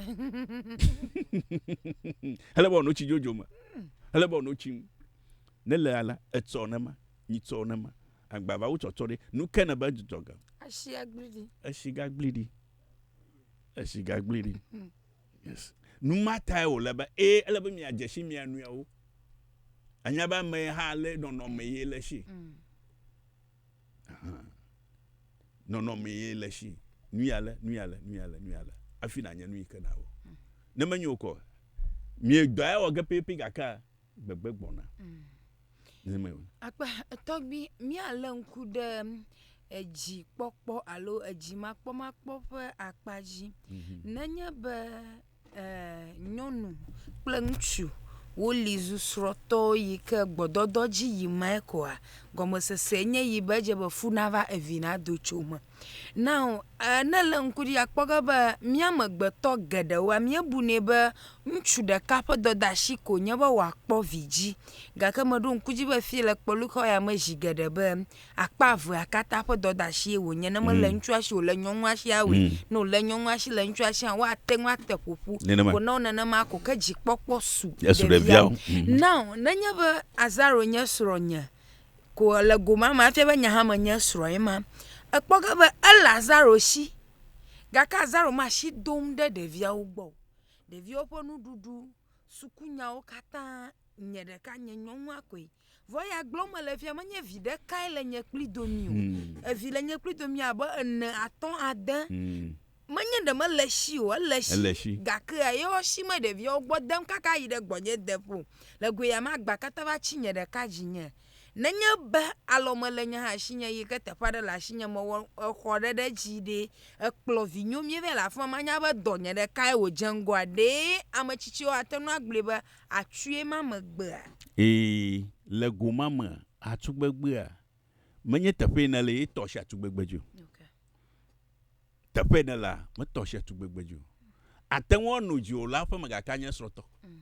Ele bɔ notsi dzodzo me. Ele bɔ notsi mu. Ne le ala etsɔ ne ma, nyi tsɔ ne ma. Agbava wo tsɔtsɔ ɖe. Nu ke ne be dzudzɔ ga. Esi agli di. Esi gagli di. Esi gagli di. Yes. Nu ma tae wo le be e ele be mia dzesi mia nuiawo. Anya ba me ha le nɔnɔ me ye le si. Mm. Aha. Nɔnɔmee le esi. Nu ya le, nu ya le, nu ya le, nu ya le. Hafi nànya nu yi ke nàwɔ. Mm. Ne menye wò kɔ, miedɔ ya wɔ ge pɛpɛpɛ gake gbegbe gbɔna. Mm. Akpa tɔgbi míalé ŋku ɖe edzi kpɔkpɔ alo edzi makpɔmakpɔ ƒe akpa dzi. Mm -hmm. Nenye be nyɔnu kple ŋutsu woli zu srɔ̃tɔwo yi ke gbɔdɔdɔ dzi yim me koa, gɔmesese nye yi be edze be fu nava evi nado tso me. Now eh ne èlé ŋku ɖi akpɔ ge be mía amegbetɔ geɖewoa míebunɛ be ŋutsu ɖeka ƒe dɔdeasi koe nye be wòakpɔ vi dzi gake meɖo ŋku edzi be fie le kpɔɖi kɔ ya me zi geɖe be Akpa evea katã ƒe dɔdeasie wònye, ne mele mm. ŋutsua si o, le nyɔnua sia awoe. Mm. Ne wòle nyɔnua si, le ŋutsua sia, woate ŋu ate ƒoƒu. Ko ne nenema ko, ke dzikpɔkpɔ su ɖevia. Mm. Now, nenye be Azaro nye srɔ̃nye, ko le goma ma, efia be nye hã menye srɔ̃e ma, ekpɔ ge be ele Azaro si, gake Azaro ma si dom ɖe ɖeviawo gbɔ. Ɖeviawo ƒe nuɖuɖu, sukunyawo katã, nye ɖeka nye nyɔnua koe. Vɔ ya gblɔm mele fia menye vi ɖekae le nye kpli domi o. Hmm. Evi le nye kpli domi abe ene, atɔ̃, ade. Hmm. Menye ɖe mele shi o, ele shi. Ele shi. Gake ye wo shi me ɖeviawo gbɔ dem kaka yi ɖe gbɔnye de ƒo. Le goe ya ma gba katã va tsi nye ɖeka dzi nye. Nenye be alɔ me le nye hã shi nye yi ke teƒe aɖe le ashi nye me wɔ exɔ ɖe ɖe dzi ɖe ekplɔ vi nyo mi ve le afima ma nya be dɔ nye ɖekae wo dze ŋgɔa ɖe ame tsitsiwo ate nu agblɔe be Atsuie ma me gbea? Ee, le go ma me atsu gbegbea. Menye teƒee nèle ye tɔ si atsu gbegbe dzi o. Teƒee nèlea, metɔ si atsu gbegbe dzi o. Àte ŋu ano dzi o la ƒe megakea nye esrɔ̃tɔ. Mm.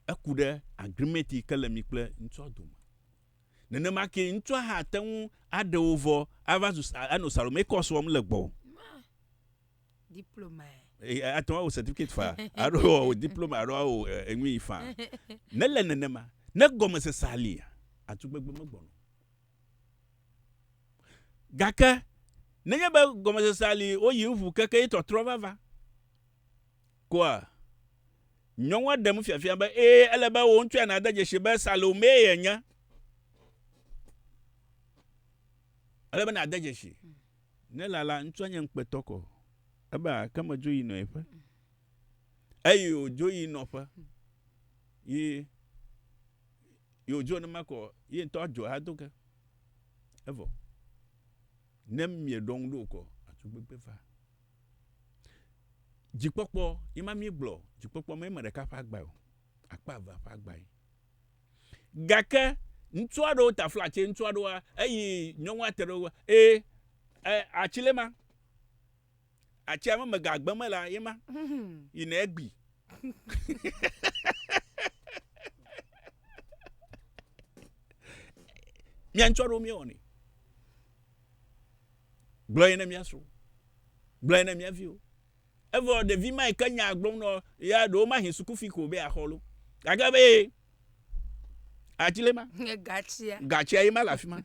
Eku ɖe agreement yi ke le mi kple ŋutsua dome. Nenema ke ŋutsua hã ate ŋu aɖe wo vɔ ava zu anɔ Salome kɔs wɔm le gbɔwò. Diploma. Eh, eh, ate ŋu awɔ certificate fa alo awɔ diploma alo awɔ eh, enui fa. Nele nenema. Ne gɔmesese alia, atugbegbe megbɔna. Gake nenye be gɔmesese ali woyi ŋu keke ye tɔtrɔ vava koa, nyɔnua ɖem fiafia be ee ele be wò ŋutsua nade dzesi be Salome yenye. Ele be nade dzesi. Ne lala ŋtsua nye ŋkpetɔ kɔ, ebe ake me dzo yi nɔ eƒe. Eyi o dzo yi nɔ ƒe. Yi, yi o dzo ne ma kɔ, yi ŋtɔ a dzo ha do ke. Evɔ. Ne mie ɖɔ ŋu ɖo kɔ, a tso gbegbe va. Dzi kpɔkpɔ, yi ma mi gblɔ, dzi kpɔkpɔ me yi me ɖeka ƒe agba o. Akpa eve ƒe agba yi. Gake ŋutsu aɖewo ta fla tse ŋutsu aɖewoa eyi nyɔnua te ɖe wo e e atsi le ma atsi ame me ga gbe me la ye ma yi ne egbi mia ŋutsu aɖewo mia wɔni gblɔ ye ne mia srɔ̃ gblɔ ye ne mia viwo Evɔ ɖevi ma yi ke nyaa gblɔm nɔ ya ɖewo mahi sukufi ko be axɔ lo. Gake be ye ati le ma. Nye gatsia. Gatsia ye ma le afi ma.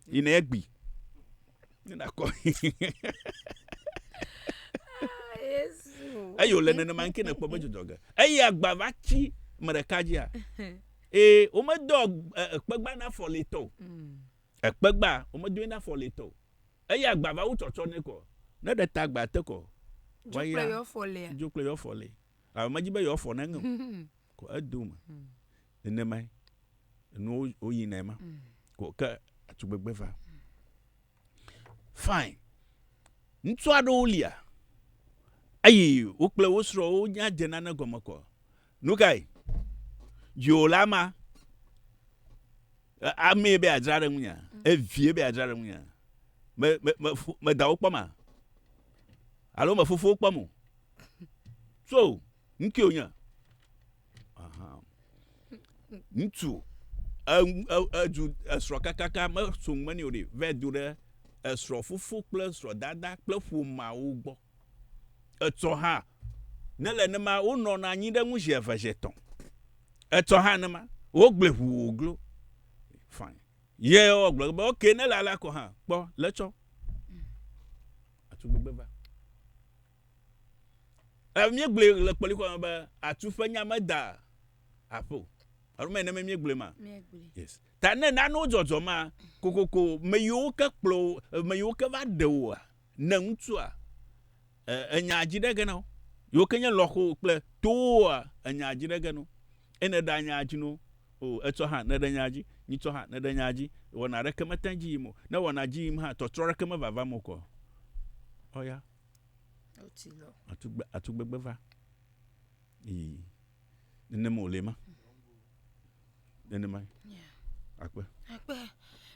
Yi ne egbi. Ne nakɔ. Eye wòle nenema ŋke nekpɔ be dzudzɔ ge. Eye agba va tsi me ɖeka dzia. Ee, womedɔ ekpegba na fɔlitɔ o. Ekpegba womedoe na fɔ letɔ o. Eya gba va wu tsɔtsɔ nɛ kɔ. Ne ɖe ta gba te kɔ. Dzo kple yɔ fɔ lea. Dzo kple yɔ fɔ le. Alo medzi be yɔ fɔ ne ŋe o. Kɔ edo me. Nene mae. Enu wo yi nɛ ma. Kɔ ke atugbegbe va. Fine. Ŋutsua ɖewo lia. Eyi wo kple wo srɔ wo nya dze nane gɔme kɔ. Nu kae? Dziwòla ma amee be adzra ɖe ŋunya, evie be adzra ɖe ŋunya. Me, me, me, me dawo kpɔm a? Alo me fofowo kpɔm o? So, ŋkee wònye. Ŋutsu, edu esrɔ̃ kakaka, meso ŋmeni o ɖe, vɛ do ɖe esrɔ̃ fofo kple esrɔ̃ dada kple ƒomawo gbɔ. Etsɔ hã ne le nema wonɔ na anyi ɖe ŋu zi eve zi etɔ̃. Etsɔ hã nema wogblɔe ʋuu wòglo. Fine. Ye wo gblɔ be ok ne le alea kɔ hã kpɔ le tsɔ. Atu gbegbe va. E mie gblɔe le kpɔli kɔ be atu ƒe nya me da aƒo. Alo me ne me mie gblɔe ma. Yes. Ta ne nane wo dzɔdzɔ ma kokoko me yiwo ke kplɔ me yiwo ke va ɖe woa. Ne ŋutsua e, enya dzi ɖe ge nao. Yewo ke nye lɔxo kple towoa, enya dzi ɖe ge no. Ene ɖa nya dzi no. O, etsɔ hã ne ɖe nya dzi. Nyitsɔ hã ne ɖe nya dzi. Wɔna ɖeke mete ŋu dzi yim o. Ne wɔna dzi yim hã, tɔtrɔ ɖeke me vavam o kɔ. Ɔya. Atugbe, atugbegbe va. Ii. Nenem o le ma. nenema akpe akpe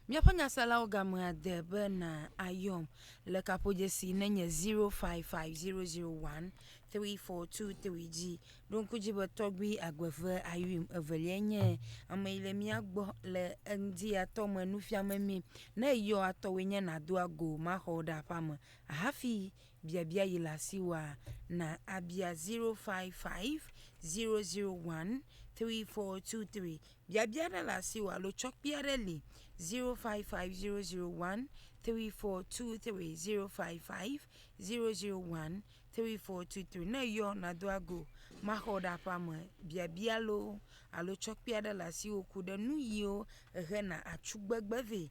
míaƒe nyaselawo gamea de be na ayɔm le kaƒodzesi ne nye 0550013423 dzi ɖo ŋku dzi be tɔgbi agbeve ayuim evelia nye ame yi le mía gbɔ le eŋdi atɔ me nufiame mi ne yɔ atɔwoe nye nado ago maxɔ ɖe aƒea me hafi Biabia yi le asi wòa, na abia 0550013423. Biabia aɖe le asi wòa alo tsɔkpui aɖe li 0550013423, 0550013423. Ne eyɔ nàdo ago maxɔ ɖe aƒea me. Biabia loo alo tsɔkpui aɖe le asiwò ku ɖe nuyiwo hena atsugbegbe vɛ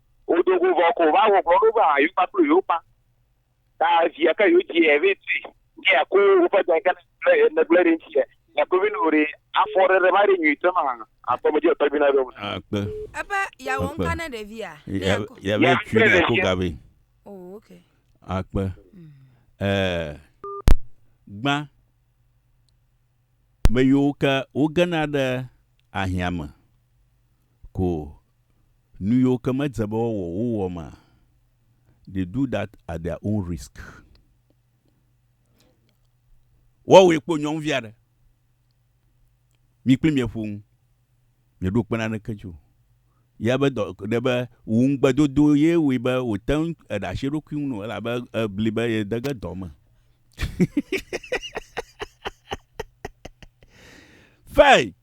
Wodo go vɔ ko va wɔ gbɔɖo be ayo kpakple yo kpa. Ta via ke yo dzi eve tui. Ke ya ko woƒe dɔ ke ne gblẽ ɖe ŋuti. Ya ko vino ɖe afɔ ɖe ɖe ma ɖe nyui te ma akpɔ me dzi akpɔ vina ɖe. Akpe. Ebe ya wɔ nka ne ɖe via. Ya be tui ne ko gabe. Oh okay. Akpe. Mm. Eh. Gba. Me yo ke wo gena ɖe ahiame. ko nu yiwo ke medze be woawɔ o wowɔ ma, they do that at their own risk. Woawɔe kpo nyɔnuvi aɖe. Mi kpli mia ƒo nu. Mieɖo kpe naneke dzi o. Ya be dɔ ɖe be wò ŋugbedodo ye wɔe be wòte ŋu eɖe asi eɖokui ŋu no elabe ebli be yede ge dɔ me. Fain!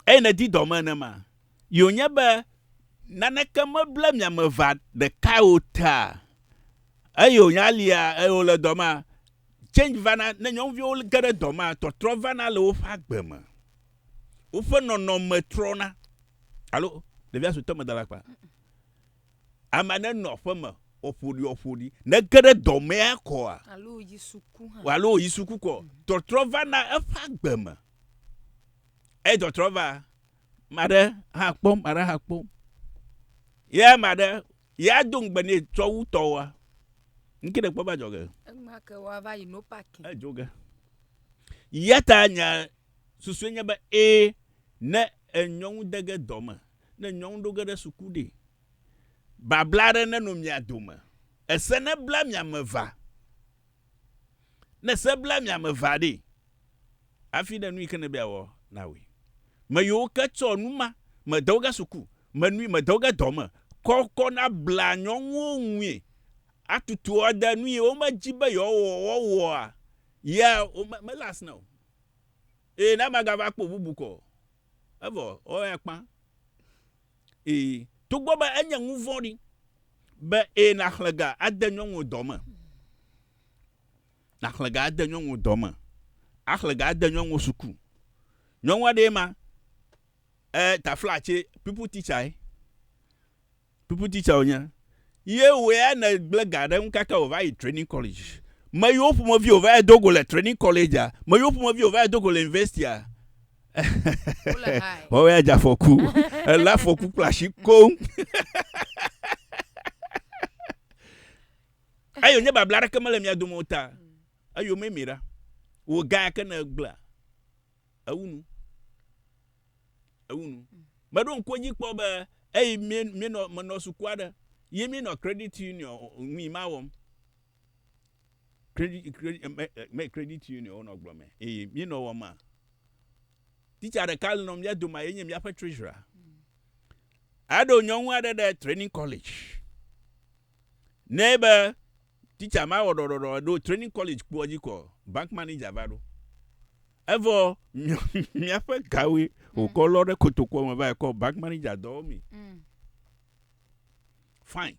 eye nèdi dɔ me nenema. Ye wònye be naneke meble mia me ʋã ɖekae o ta. Eye wònye alia, eye wòle dɔ mea, change vana, ne nyɔnuviwo ge ɖe dɔ mea, tɔtrɔ vana le woƒe agbe me. Woƒe nɔnɔme trɔna. Alo, ɖevia suetɔ meda ɖe akpa. Amea nenɔ aƒeme ƒoɖiɔƒoɖi. Ne ge ɖe dɔ mea kɔa, alo wòyi suku kɔ, tɔtrɔ vana eƒe agbe me. Eyi tɔtrɔ va, ma ɖe hã kpɔ, ma ɖe hã kpɔ. Ye ma ɖe, ya do ŋugbe ne tsɔ wu tɔwoa. Ŋke ɖe kpɔ va dzɔ ge. Ema ke wa va yi no paki. Edzo ge. Yata nya susu nye be e ne enyɔnu de ge dɔ me, ne nyɔnu ɖo ge ɖe suku ɖe. Babla ɖe ne no mia dome. Ese ne bla mia me va. Ne se bla mia me vea ɖee, afi ɖe nu yi ke nebe yeawɔ na wòe. Me yiwo ke tsɔ nu ma, me de wo ge suku, me nui, me de wo ge dɔ me, kɔ kɔ na bla nyɔnuwo ŋui atutu wo ade nu yi wo me dzi be yewoawɔ woawɔa, ya wo me, mele asi na o. Eye ne amagava kpɔ bubu kɔ o, evɔ woawoe akpã. Ii, togbɔ be enye nuvɔ̃ɖi be ii nàxlẽ ga ade nyɔnuwò dɔ me, nàxlẽ ga ade nyɔnuwò dɔ me, axlẽ ga ade nyɔnuwò suku. Nyɔnu aɖee ma, e, tafla tsɛ, pupil titsa ye, pupil titsa wònye. Ye wòe ya negblẽ ga ɖe eŋu kaka wòva yi trɛnin kɔledzi. Meyiwo ƒomevi wòva yi do go le trɛnin kɔledzia? Meyiwo ƒomevi wòva yi do go le universitia? wɔwɔ ya dze afɔku elé afɔku kple asi koŋ eyo nye babla aɖeke mele mia dome o ta eyo me mi ɖa wò ga yake ne egblea ewu nu ewu nu meɖo ŋku dzi kpɔ be eyi mi mi nɔ menɔ suku aɖe yi mi nɔ credit union ŋui ma wɔm credit credit union wonɔ gblɔ mɛ eye mi nɔ wɔ ma teacher ɖeka le nɔ mía doma ye nye mía ƒe treasurer aɖo nyɔnu aɖe ɖe training college ne be teacher ma wɔ ɖɔɖɔɖɔ ɖo training college kpɔ dzi kɔ bank manager va ɖo evɔ mía ƒe gawoe wòkɔ lɔ ɖe kotokɔ me va kɔ bank manager dɔwɔ mi mm. fine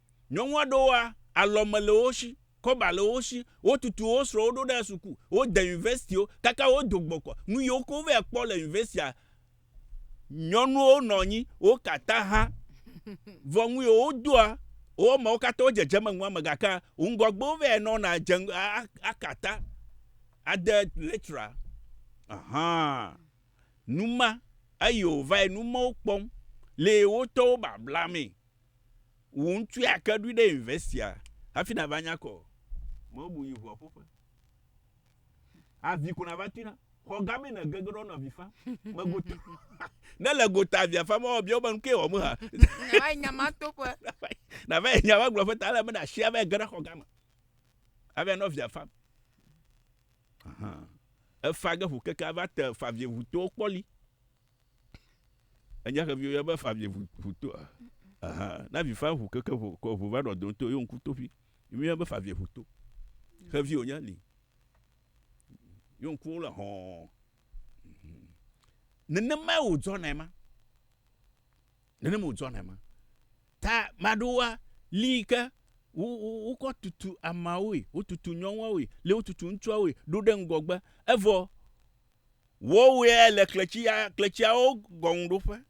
Nyɔnu aɖewoa, alɔme le wo shi, kɔba le wo shi, wotutu wo srɔ̃wo ɖo ɖe suku, wode universitiwo, kaka wodo gbɔkɔ, nu yiwo ke wova kpɔ le universitia, nyɔnuwo nɔ anyi, wo katã hã, vɔ nu yiwo wodoa, wo ameawo katã wo dzedzeme nua me gake ŋgɔgbe wova nɔna dze ŋgɔ aka ta ade lecturer ahan nu ma eye wova nu ma wo kpɔm le wotɔwo babla mee Wò ŋutɔe ake ɖui ɖe university a hafi na va nya kɔ o. Me bu yi ʋua ƒoƒe. Avi ko na va tui na. Xɔ gã me na gege ɖɔ na vi fa. Me gota. ne le gota avia fa ma obia be nukee wɔ me ha. Na va yi nya ma to ƒe. Na va yi nya va gblɔ ƒe ta le me na shi ava yi ge ɖe xɔ gã me. Ava yi nɔ via fa. Aha. Efa ge ƒo keke ava te fa vi ŋu to kpɔli. Enya xevi wo ya be fa vi ʋu ʋu to. Aha, na vi fa ʋu keke ʋu kɔ ʋu va ɖɔ do to yo ŋku to ƒi. Mi ya be fa vi ʋu to. Xevi wo nya li. Yo ŋku wo le hɔn. Mhm. Nenema wo dzɔ na ma. Nenema wo dzɔ na ma. Ta maɖoa li ke wo wo wo kɔ tutu amawoe, wo tutu nyɔnwawoe, le wo tutu ŋutsuawoe ɖo ɖe ŋgɔgbe. Evɔ Wowɔe le kletsia, kletsiawo gɔŋuɖoƒe.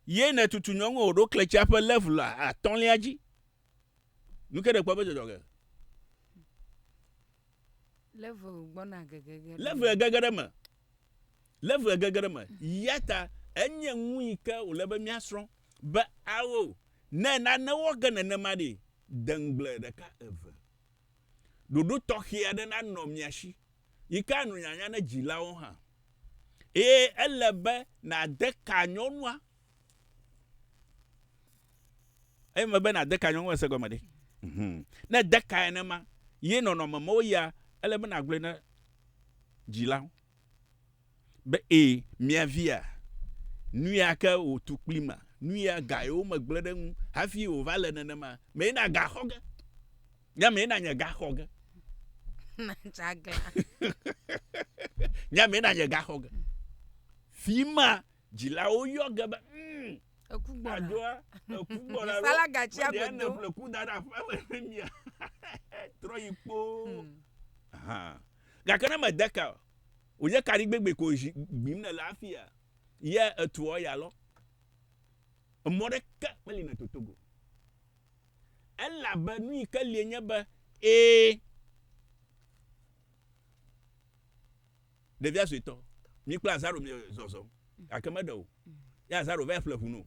Ye nètutu nyɔŋue wòɖo kletsia ƒe level atɔ̃lia dzi. Nu ke nèkpɔ be dzɔdzɔ ge. Level gbɔna gege ge. Level gege ɖe me. Level gege ɖe me. Yata enye nu yi ke wòle be míasrɔ̃ be ao ne nane wɔ ge nenema ɖi. Deŋgble ɖeka eve. Ɖoɖo tɔxɛ aɖe nanɔ mia si, yi ke anɔ nyanya na dzilawo hã, eye ele be nàde ka nyɔnua. Eye mebe nàde ka nyɔnua se gɔme ɖe? Hum. Ne ède kae nenema ye nɔnɔme me wo yia, ele be nàgblɔe na dzilawo. Be e, mia via, nuya ke wòtu kpli ma, nuya gae womegblẽ ɖe eŋu hafi wòva le nenema, mee nagaxɔ ge, nye amee nanye gaxɔ ge. nye amee nanye gaxɔ ge. Fi ma dzilawo yɔ ge be, mm, eku gbɔna. Adoa, eku gbɔna. Sala gatsi agbedo. Mede ne ƒle ku da ɖe aƒea me ne mia. Trɔ yi kpoo. Hmm. Gake ne mède ka o, wònye kaɖigbegbe ko zi gbim nèle afia? Ye etuɔ ya lɔ, emɔ ɖeke meli nɛ toto go. Elabe nu yi ke lie nye be, Ẽ, ɖevia suetɔ, mi kple Azaro miezɔzɔm. Gake meɖe o. Ye Azaro vae ƒle ʋu nɛ o.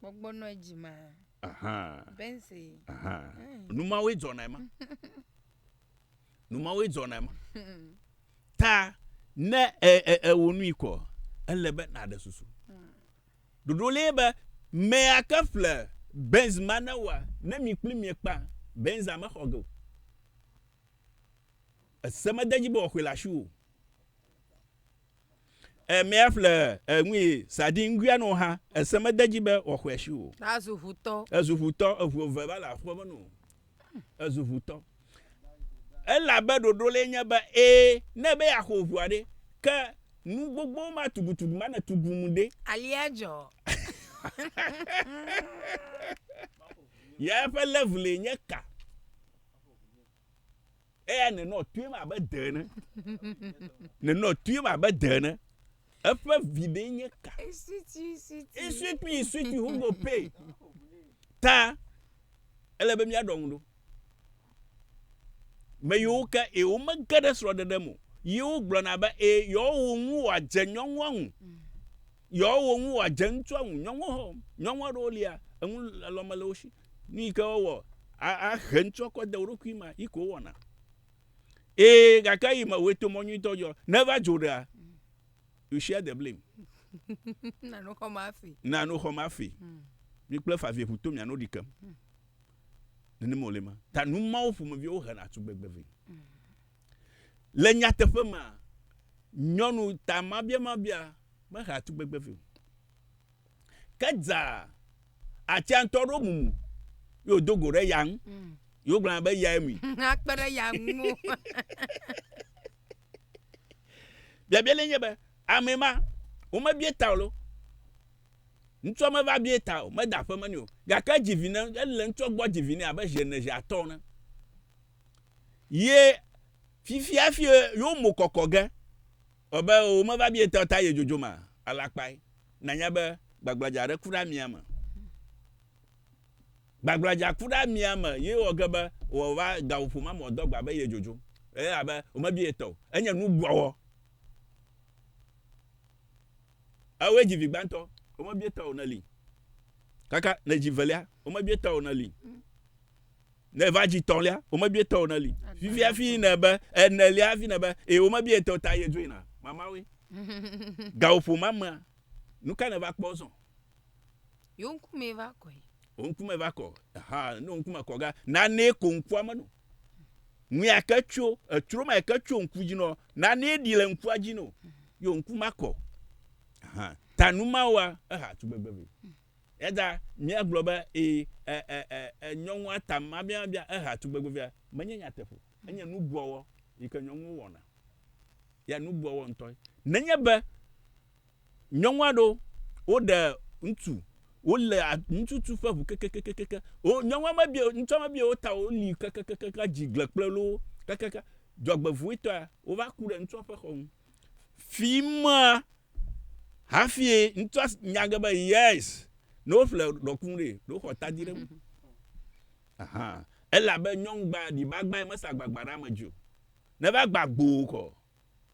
Gbɔgbɔ nɔ edzi ma. Aha. Bense. Aha. Mm. Numawoe dzɔnae ma. Numawoe dzɔnae ma. Ta ne ewɔ nui kɔ, ele be nàɖe susu. Ɖoɖo mm. lee be mea ke ƒle Benz ma ne wa ne mi kpli mi kpa Benza mexɔ ge o. Ese mede dzi be wòaxɔe le asiwò. E mea ƒle e ŋui sa di ŋgui ano ha e se me de dzi be wɔ xɔe shi o. Ta zu ʋutɔ. E zu ʋutɔ e ʋu eve va le aƒe me no. E zu ʋutɔ. E la be ɖoɖo le nye be e ne be ya xɔ ʋua ɖe ke nu gbogbo ma tugu tugu ma ne tugu mu ɖe. Alia dzɔ. Ya ƒe level e nye ka? Eya nenɔ tuim abe de ene. nenɔ tuim abe de ene. Eƒe viɖe nye ka? Iswiti, iswiti. Iswiti, iswiti, hugo pay. Ta, ele be míaɖɔ ŋu ɖo. Me yiwo ke, e, womege ɖe srɔ̃ɖeɖe me o. Ye wogblɔna be, e, yewoawo ŋu wòadze nyɔnua ŋu. Yewoawo ŋu wòadze ŋutsua ŋu. Nyɔnua hã, nyɔnua ɖewo lia, eŋu lɔlɔ̃ mele wo si. Nu yi ke wowɔ ahe ŋtsɔkɔ de wo ɖokui ma yi ko wɔna. Ee, gake yi me wòto mɔ nyuitɔ dzɔ. Ne va dzo ɖea, you share the blame. Na nu xɔm afi. Na nu xɔm afi. Hmm. Mi kple favie ƒu to miano ɖi kem. Hmm. Nenema wòle ma. Ta nu mawo ƒomeviwo hena tugbegbe vɛ. Hmm. Le nyateƒe ma, nyɔnu ta mabia mabia mehea tugbegbe vɛ o. Ke dza atia ŋutɔ ɖo mumu ye wòdo go ɖe ya ŋu. Mm. Ye wogblɔna be yae mui. Akpe ɖe ya ŋu. Biabia le nye be, ame ma, womebie ta o lo. Ŋutsua meva bie ta o, meda aƒe me nɛ o. Gake edzi vi ne, ele ŋutsua gbɔ dzi vi ne abe zi ene, zi atɔ̃ ne. Ye fifia fi yewo mo kɔkɔ ge. Ɔ be o me va bietɔ ta ye dzodzo ma alakpae na nya be gbagblɔdza ɖe kuɖa mia me. Gbagblɔdza kuɖa mia me ye wɔ ge be wɔ va gawo ƒo ma mɔ dɔgba be ye dzodzo. Eye abe o me bietɔ enye nu gbɔwɔ. Eo ye dzi vi gbantɔ o me bietɔ o ne li. Kaka ne dzi velia o me bietɔ o ne li. Ne eva dzi tɔ̃lia, womebie tɔ o ne li. Fifia hafi yina be enelia hafi yina be e womebie tɔ ta yedzo yina. Mamawoe. Gawoƒo ma mea, nu ka nèva kpɔ zɔ? Yewo ŋkume va kɔe. Wo ŋkume va kɔ. Aha, ne wo ŋkume kɔ ga, nanee ko ŋkua menɔ. Ŋui ake tso, etsro ma eke tso ŋku dzi nɔ, nanee ɖi le ŋkua dzi nɔ. Yo ŋku ma kɔ. Aha, ta nu mawoa, eha tugbegbe vɛ. Eya ta míagblɔ be, Ee, e, e, e, e, nyɔnua ta mabiamabia, ehea tugbegbevea. Menye nyateƒo o. Enye nubuɔwɔ yi ke nyɔnuwo wɔna. Ya nubuɔwɔ ŋutɔe. Nenye be nyɔnu aɖewo woɖe ŋutsu, wole ŋutsutsu ƒe ŋu kekekekeke, wo, nyɔnua mebia o, ŋutsua mebia o, ta woli kekekekeke, dzi gble kple loo, kekeke, dzɔgbevɔ̃etɔea, wova ku ɖe ŋutsua ƒe xɔ ŋu. fimea hafie ŋutsu nya ge be yes ne woƒle ɖɔku ɖe ɖo xɔ tadi ɖe elabe nyɔnu gba ɖiba gba yi mesa gbagba ɖe ame dzi o ne va gba gboo kɔ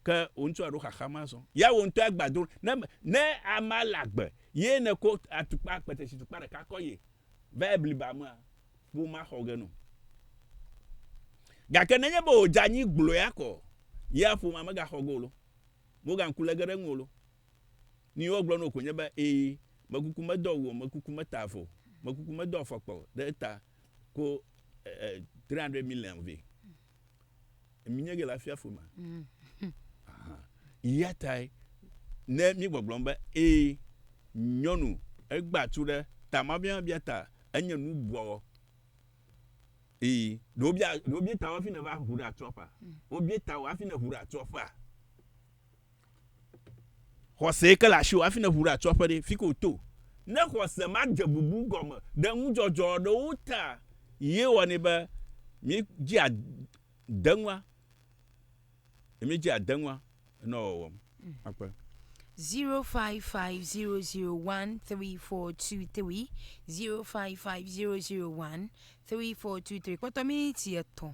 ke wo ŋutsu aɖo xaxa ma zɔ ya wo ŋutɔ agba do ne ne ama le agbe ye ne ko atukpa akpete si tukpa ɖeka kɔ ye va ebli ba mea, womaxɔ ge no. Gake nenye be wòdze anyi gblɔea ko ya ƒomea megaxɔ ge o lo, mogaŋku le ge ɖe eŋu o lo. Nu yi wogblɔ na wò koe nye be, Ee, mekuku medo awu o, mekuku meta avɔ o, mekuku medo afɔkpa o, ɖe eta ko 300 million vɛ. mi nye ge le afia fo ma ya tae ne mi gbɔgblɔm be ee nyɔnu egba tu ɖe tama bia bia ta enye nu bɔ ee ɖewo bia ɖewo bia ta hafi ne va ʋu ɖe atsɔƒa wo bia ta hafi ne ʋu ɖe atsɔƒa Xɔse ke le asiwò hafi nèʋu ɖe atso aƒe ɖe, fike wòto. Ne xɔse madze bubu gɔme ɖe nudzɔdzɔ aɖewo ta ye wɔnɛ be míedzea deŋua, ye míedzea deŋua nɔ wɔwɔ me. Akpe. 0550013423, 0550013423, kpɔtɔ miniti etɔ̃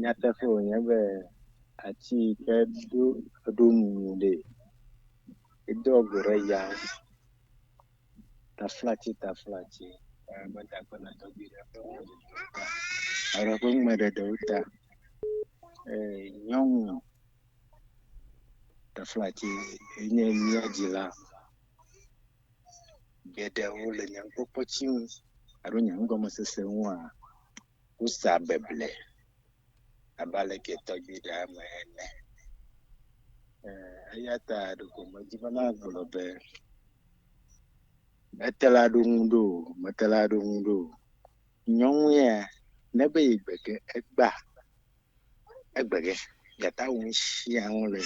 Nyateƒe wònye be ati yi ke do eɖo nu ɖee, edo ŋɔ ɖe ya ta flati ta flati eye meda akpe le tɔgbui ɖe ƒe mɔ dodo ɖe ta alo eƒe nume ɖeɖewo ta eye nyɔnu ta flati enye mía dzila. geɖewo le nye nukpɔkpɔ tsi nu alo nye nugɔmesese nua, wosa beble abe aleke tɔgbi ɖe eme ene. Eya ta ɖeko medzi be magblɔ be mete la ɖo ŋu ɖo, mete la ɖo ŋu ɖo. Nyɔnu ya ne be yegbe ge egbea, Egbegɛ, mìate ŋu asia nu le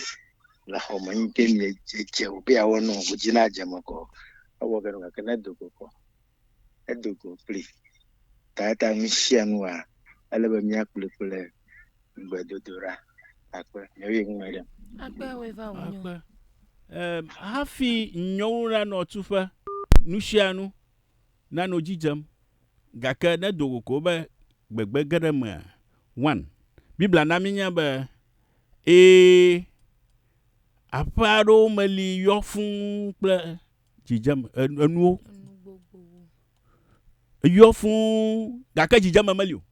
le xɔ me eyi ke mìdze dze o be yeawɔ nɔ wò dzi nadze eme kɔ. Ewɔ ge ɖo gake ne edo go kɔ, edo go kpli. Ta ate ŋu asia nua, ele be mìakplɔe kple gbedodoɖa. Akpe. Nɔ ye ŋu me ɖem. Akpe woe va wò nyɔ. Akpe. Em, hafi nyɔwo nanɔ tuƒe, nusianu nanɔ edzi dzem. gake ne do go ko be gbegbe ge ɖe emea, one. Biblia na míenya be, Ẽ, aƒe aɖewo me li yɔ fũ kple dzidzeme, enuwo yɔ fũ, gake dzidzeme meli o.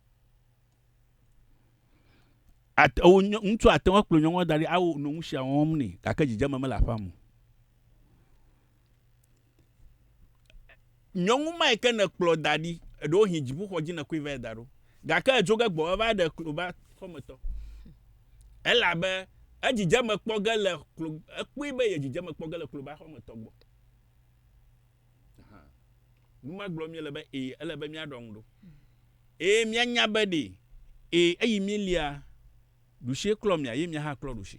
Ate, wò nyɔ, ŋutsu ate ŋu akplɔ nyɔnua da ɖi awo nu sia wɔm nɛ gake dzidzeme mele aƒea me o. Nyɔnu mae ke nèkplɔ da ɖi, ɖewohĩ dziƒoxɔ dzi nèkɔe vae da ɖo, gake èdzo ge gbɔ eva ɖe kloba xɔmetɔ. Elabe edzidzeme kpɔ ge le klo, ekpɔe be ye dzidzeme kpɔ ge le kloba xɔmetɔ gbɔ. Aha. Nu ma gblɔm míele be ee, ele be míaɖɔ ŋu ɖo. Eye míanya be ɖee, ee, eyi mília ɖusie klɔ mia, ye mia hã klɔ ɖusi.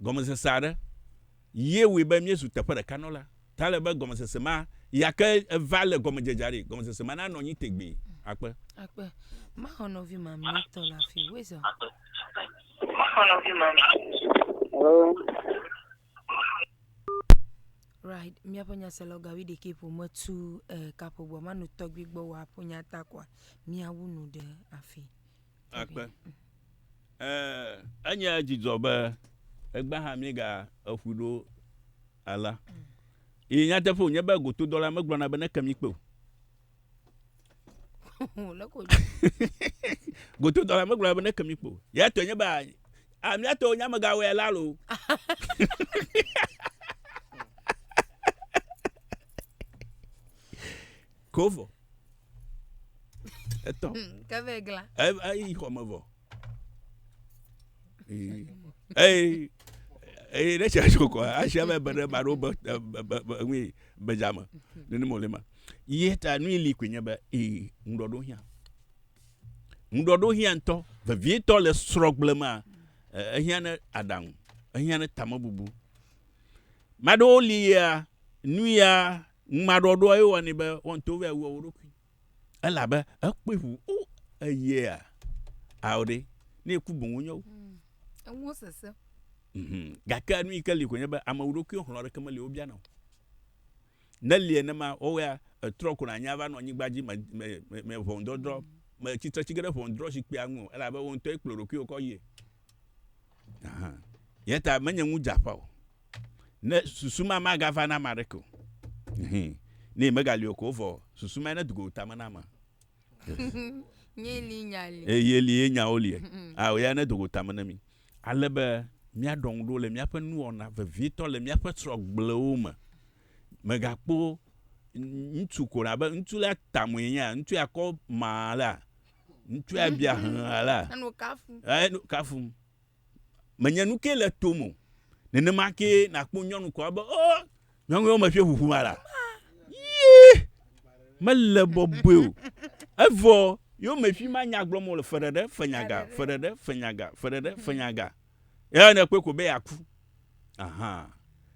gɔmesese aɖe ye wɔe be míezu teƒe ɖeka nɔla. Ta ele be gɔmesese ma ya ke eva le gɔmedzedzea ɖi, gɔmesese ma nanɔ anyi tegbee. Akpe. Akpe. Maxɔ nɔvi mamlɛtɔ le afi. Wezɔ. Maxɔ nɔvi mamlɛtɔ. Right, míaƒe nyasela gawi ɖekɛ ƒo metu eh, kaƒo gbɔ manu tɔgbi gbɔ wòaƒo nyata kɔa míawu nu ɖe afi. Akpe. Enye dzidzɔ be egbe hã míega eƒui ɖo alea. Yi nyateƒe wònye be gotodɔla megblɔna be neke mi kpe o. Gotodɔla megblɔna be neke mi kpe o. Ya tɔe nye be amia tɔwo nye amegawɔe la lo. Kovo. etɔ hmm, ke vɛ gla eyi xɔ me vɔ eyi eyi ne tsia so kɔ asia bɛ bɛnɛ ma ɖo bɛ bɛ bɛ nui bɛdzame nínú mɔlɛ ma yie ta nui li koe nye bɛ ee ŋdɔ ɖo hiã ŋdɔ ɖo hiã ŋtɔ vevietɔ le srɔgble ma ehiã ne aɖaŋu ehiã ne tamebubu maɖewo li ya nuya Ŋumaɖɔɖɔa ye wɔnɛ be wɔntɔ vɛ awua wo ɖokui. Elabe ekpɔe ʋu o eyea ao ɖe ne eku boŋ wonye wo. Mm. Eŋuwo sese. Mm. Gake nu yi ke li ko nye be ame wu ɖokui xlɔ ɖeke meli wobiana o. Ne li enema wɔwɔa etrɔ ko nanya va nɔ anyigba dzi me me me me ʋɔnudɔdrɔ mm. me tsitre tsi ge ɖe ʋɔnudrɔ zikpuia ŋu o elabe wo ŋutɔ ye kplɔ ɖokuiwo kɔ yie. Yẹn ta menye ŋu dze aƒa o. Ne susu ma magava na ame aɖeke o. Ne megali o ko vɔ susu ma ne do go tame na ame. Yeli nya li. Eye li ye nyawo li. Ao ya ne do go tame na mi. Ale be míaɖɔ ŋu ɖo le míaƒe nuwɔna vevietɔ le míaƒe srɔ̃gblewo me. Megakpɔ ŋutsu ko ɖa be ŋutsu la tamue nya ŋutsu ya kɔ ma la Ŋutsua bia hlã la. Enɔ kafum. Enɔ kafum. Menye nu ke le tom o. Nenema ke nàkpɔ nyɔnu kɔa be, o, oh, nyɔnuwo meƒe ʋuʋu ma la. Yii, mele bɔbɔe o. Evɔ, yo meƒi ma nya gblɔm wole feɖeɖe, fenyaga, feɖeɖe, fenyaga, feɖeɖe, fenyaga. Eya ne kpɔe ko be yeaku. Aha.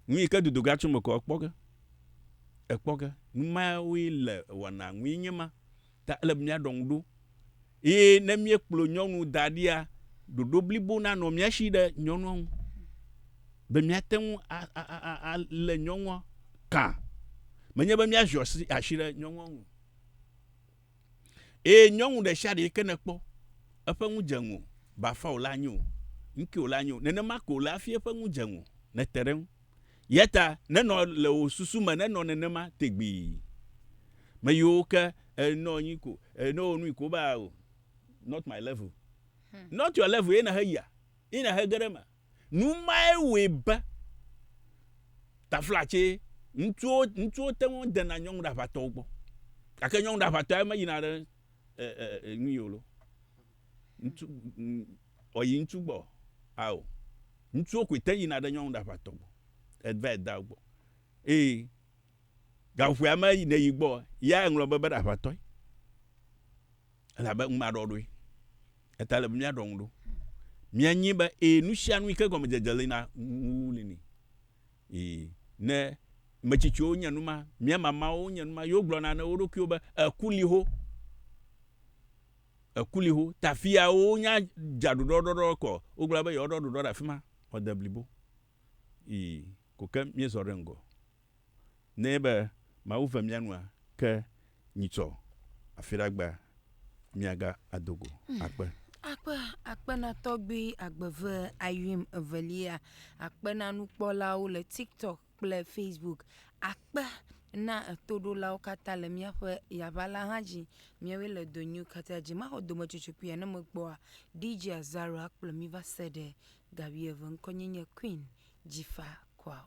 Nu yi ke dodoga tso me kɔ ekpɔ ge. Ekpɔ ge. Nu mawoe le wɔna nui nye ma. Ta ele be míaɖɔ ŋu ɖo, eye ne míekplɔ nyɔnu da ɖia, ɖoɖo blibo nanɔ mía si ɖe nyɔnua ŋu, be míate ŋu alé nyɔnua kã, menye be míaziɔ asi, asi ɖe nyɔnua ŋu o. Eye nyɔnu ɖe sia ɖe yi ke nèkpɔ eƒe nu dze ŋuwò, bafa wòle anyi o, nuke wòle anyi o, nenema ke wòle hafi eƒe nu dze ŋuwò, nète ɖe eŋu. Eya ta nenɔ le wò susu me nenɔ nenema tegbee. Meyiwo ke enɔ anyi ko enɔ wò nui ko be ah oh not my level. Hmm. Not your level ye nehe yia ye nehe ge ɖe eme. Nu mae wɔe be taflatse ŋutsuwo ŋutsuwo te ŋu dena nyɔnu ɖaʋatɔwo gbɔ gake nyɔnu ɖaʋatɔ ya meyina ɖe e e e nu yio lo. Ŋutsu, ɔyi ŋutsu gbɔ, ao, ŋutsuwo koe te yina ɖe nyɔnu ɖaʋatɔ gbɔ, eva yi da gbɔ, eye gaƒoƒoea me ne yi gbɔ, ya eŋlɔ be be ɖaʋatɔe, elabe ŋu ma ɖɔ ɖoe, eta ele be mía ɖɔ ŋu ɖo, mía nyi be eye nusianu yike gɔme dzedze li na ŋu li ni, yi ne metsitsiwo nye numa, mía mamawo nye numa, yewo gblɔ na ne woɖokuiwo be eku li ho. ekuliho ta fiawo nya dza ɖuɖɔ ɖɔɖɔ kɔ wogblɔ be yewoɖɔ ɖuɖɔ ɖe afi ma xɔde blibo yi ko ke míezɔ ɖe ŋgɔ nɛ be Mawu ve mía nua ke nyitsɔ afi ɖe agba míaga ado go hmm. akpe. Akpe akpena tɔgbi agbeve ayuim evelia akpena nukpɔlawo le TikTok kple Facebook akpe na toɖolawo katã le míaƒe yaʋa la hã dzi. Míawoe le do nyui katã dzi. Maxɔ dometsotso kpuia ne mekpɔa DJ Azaro akplɔ mí va se ɖe ga wuieve. Ŋkɔnye nye Queen Jifa Kwao.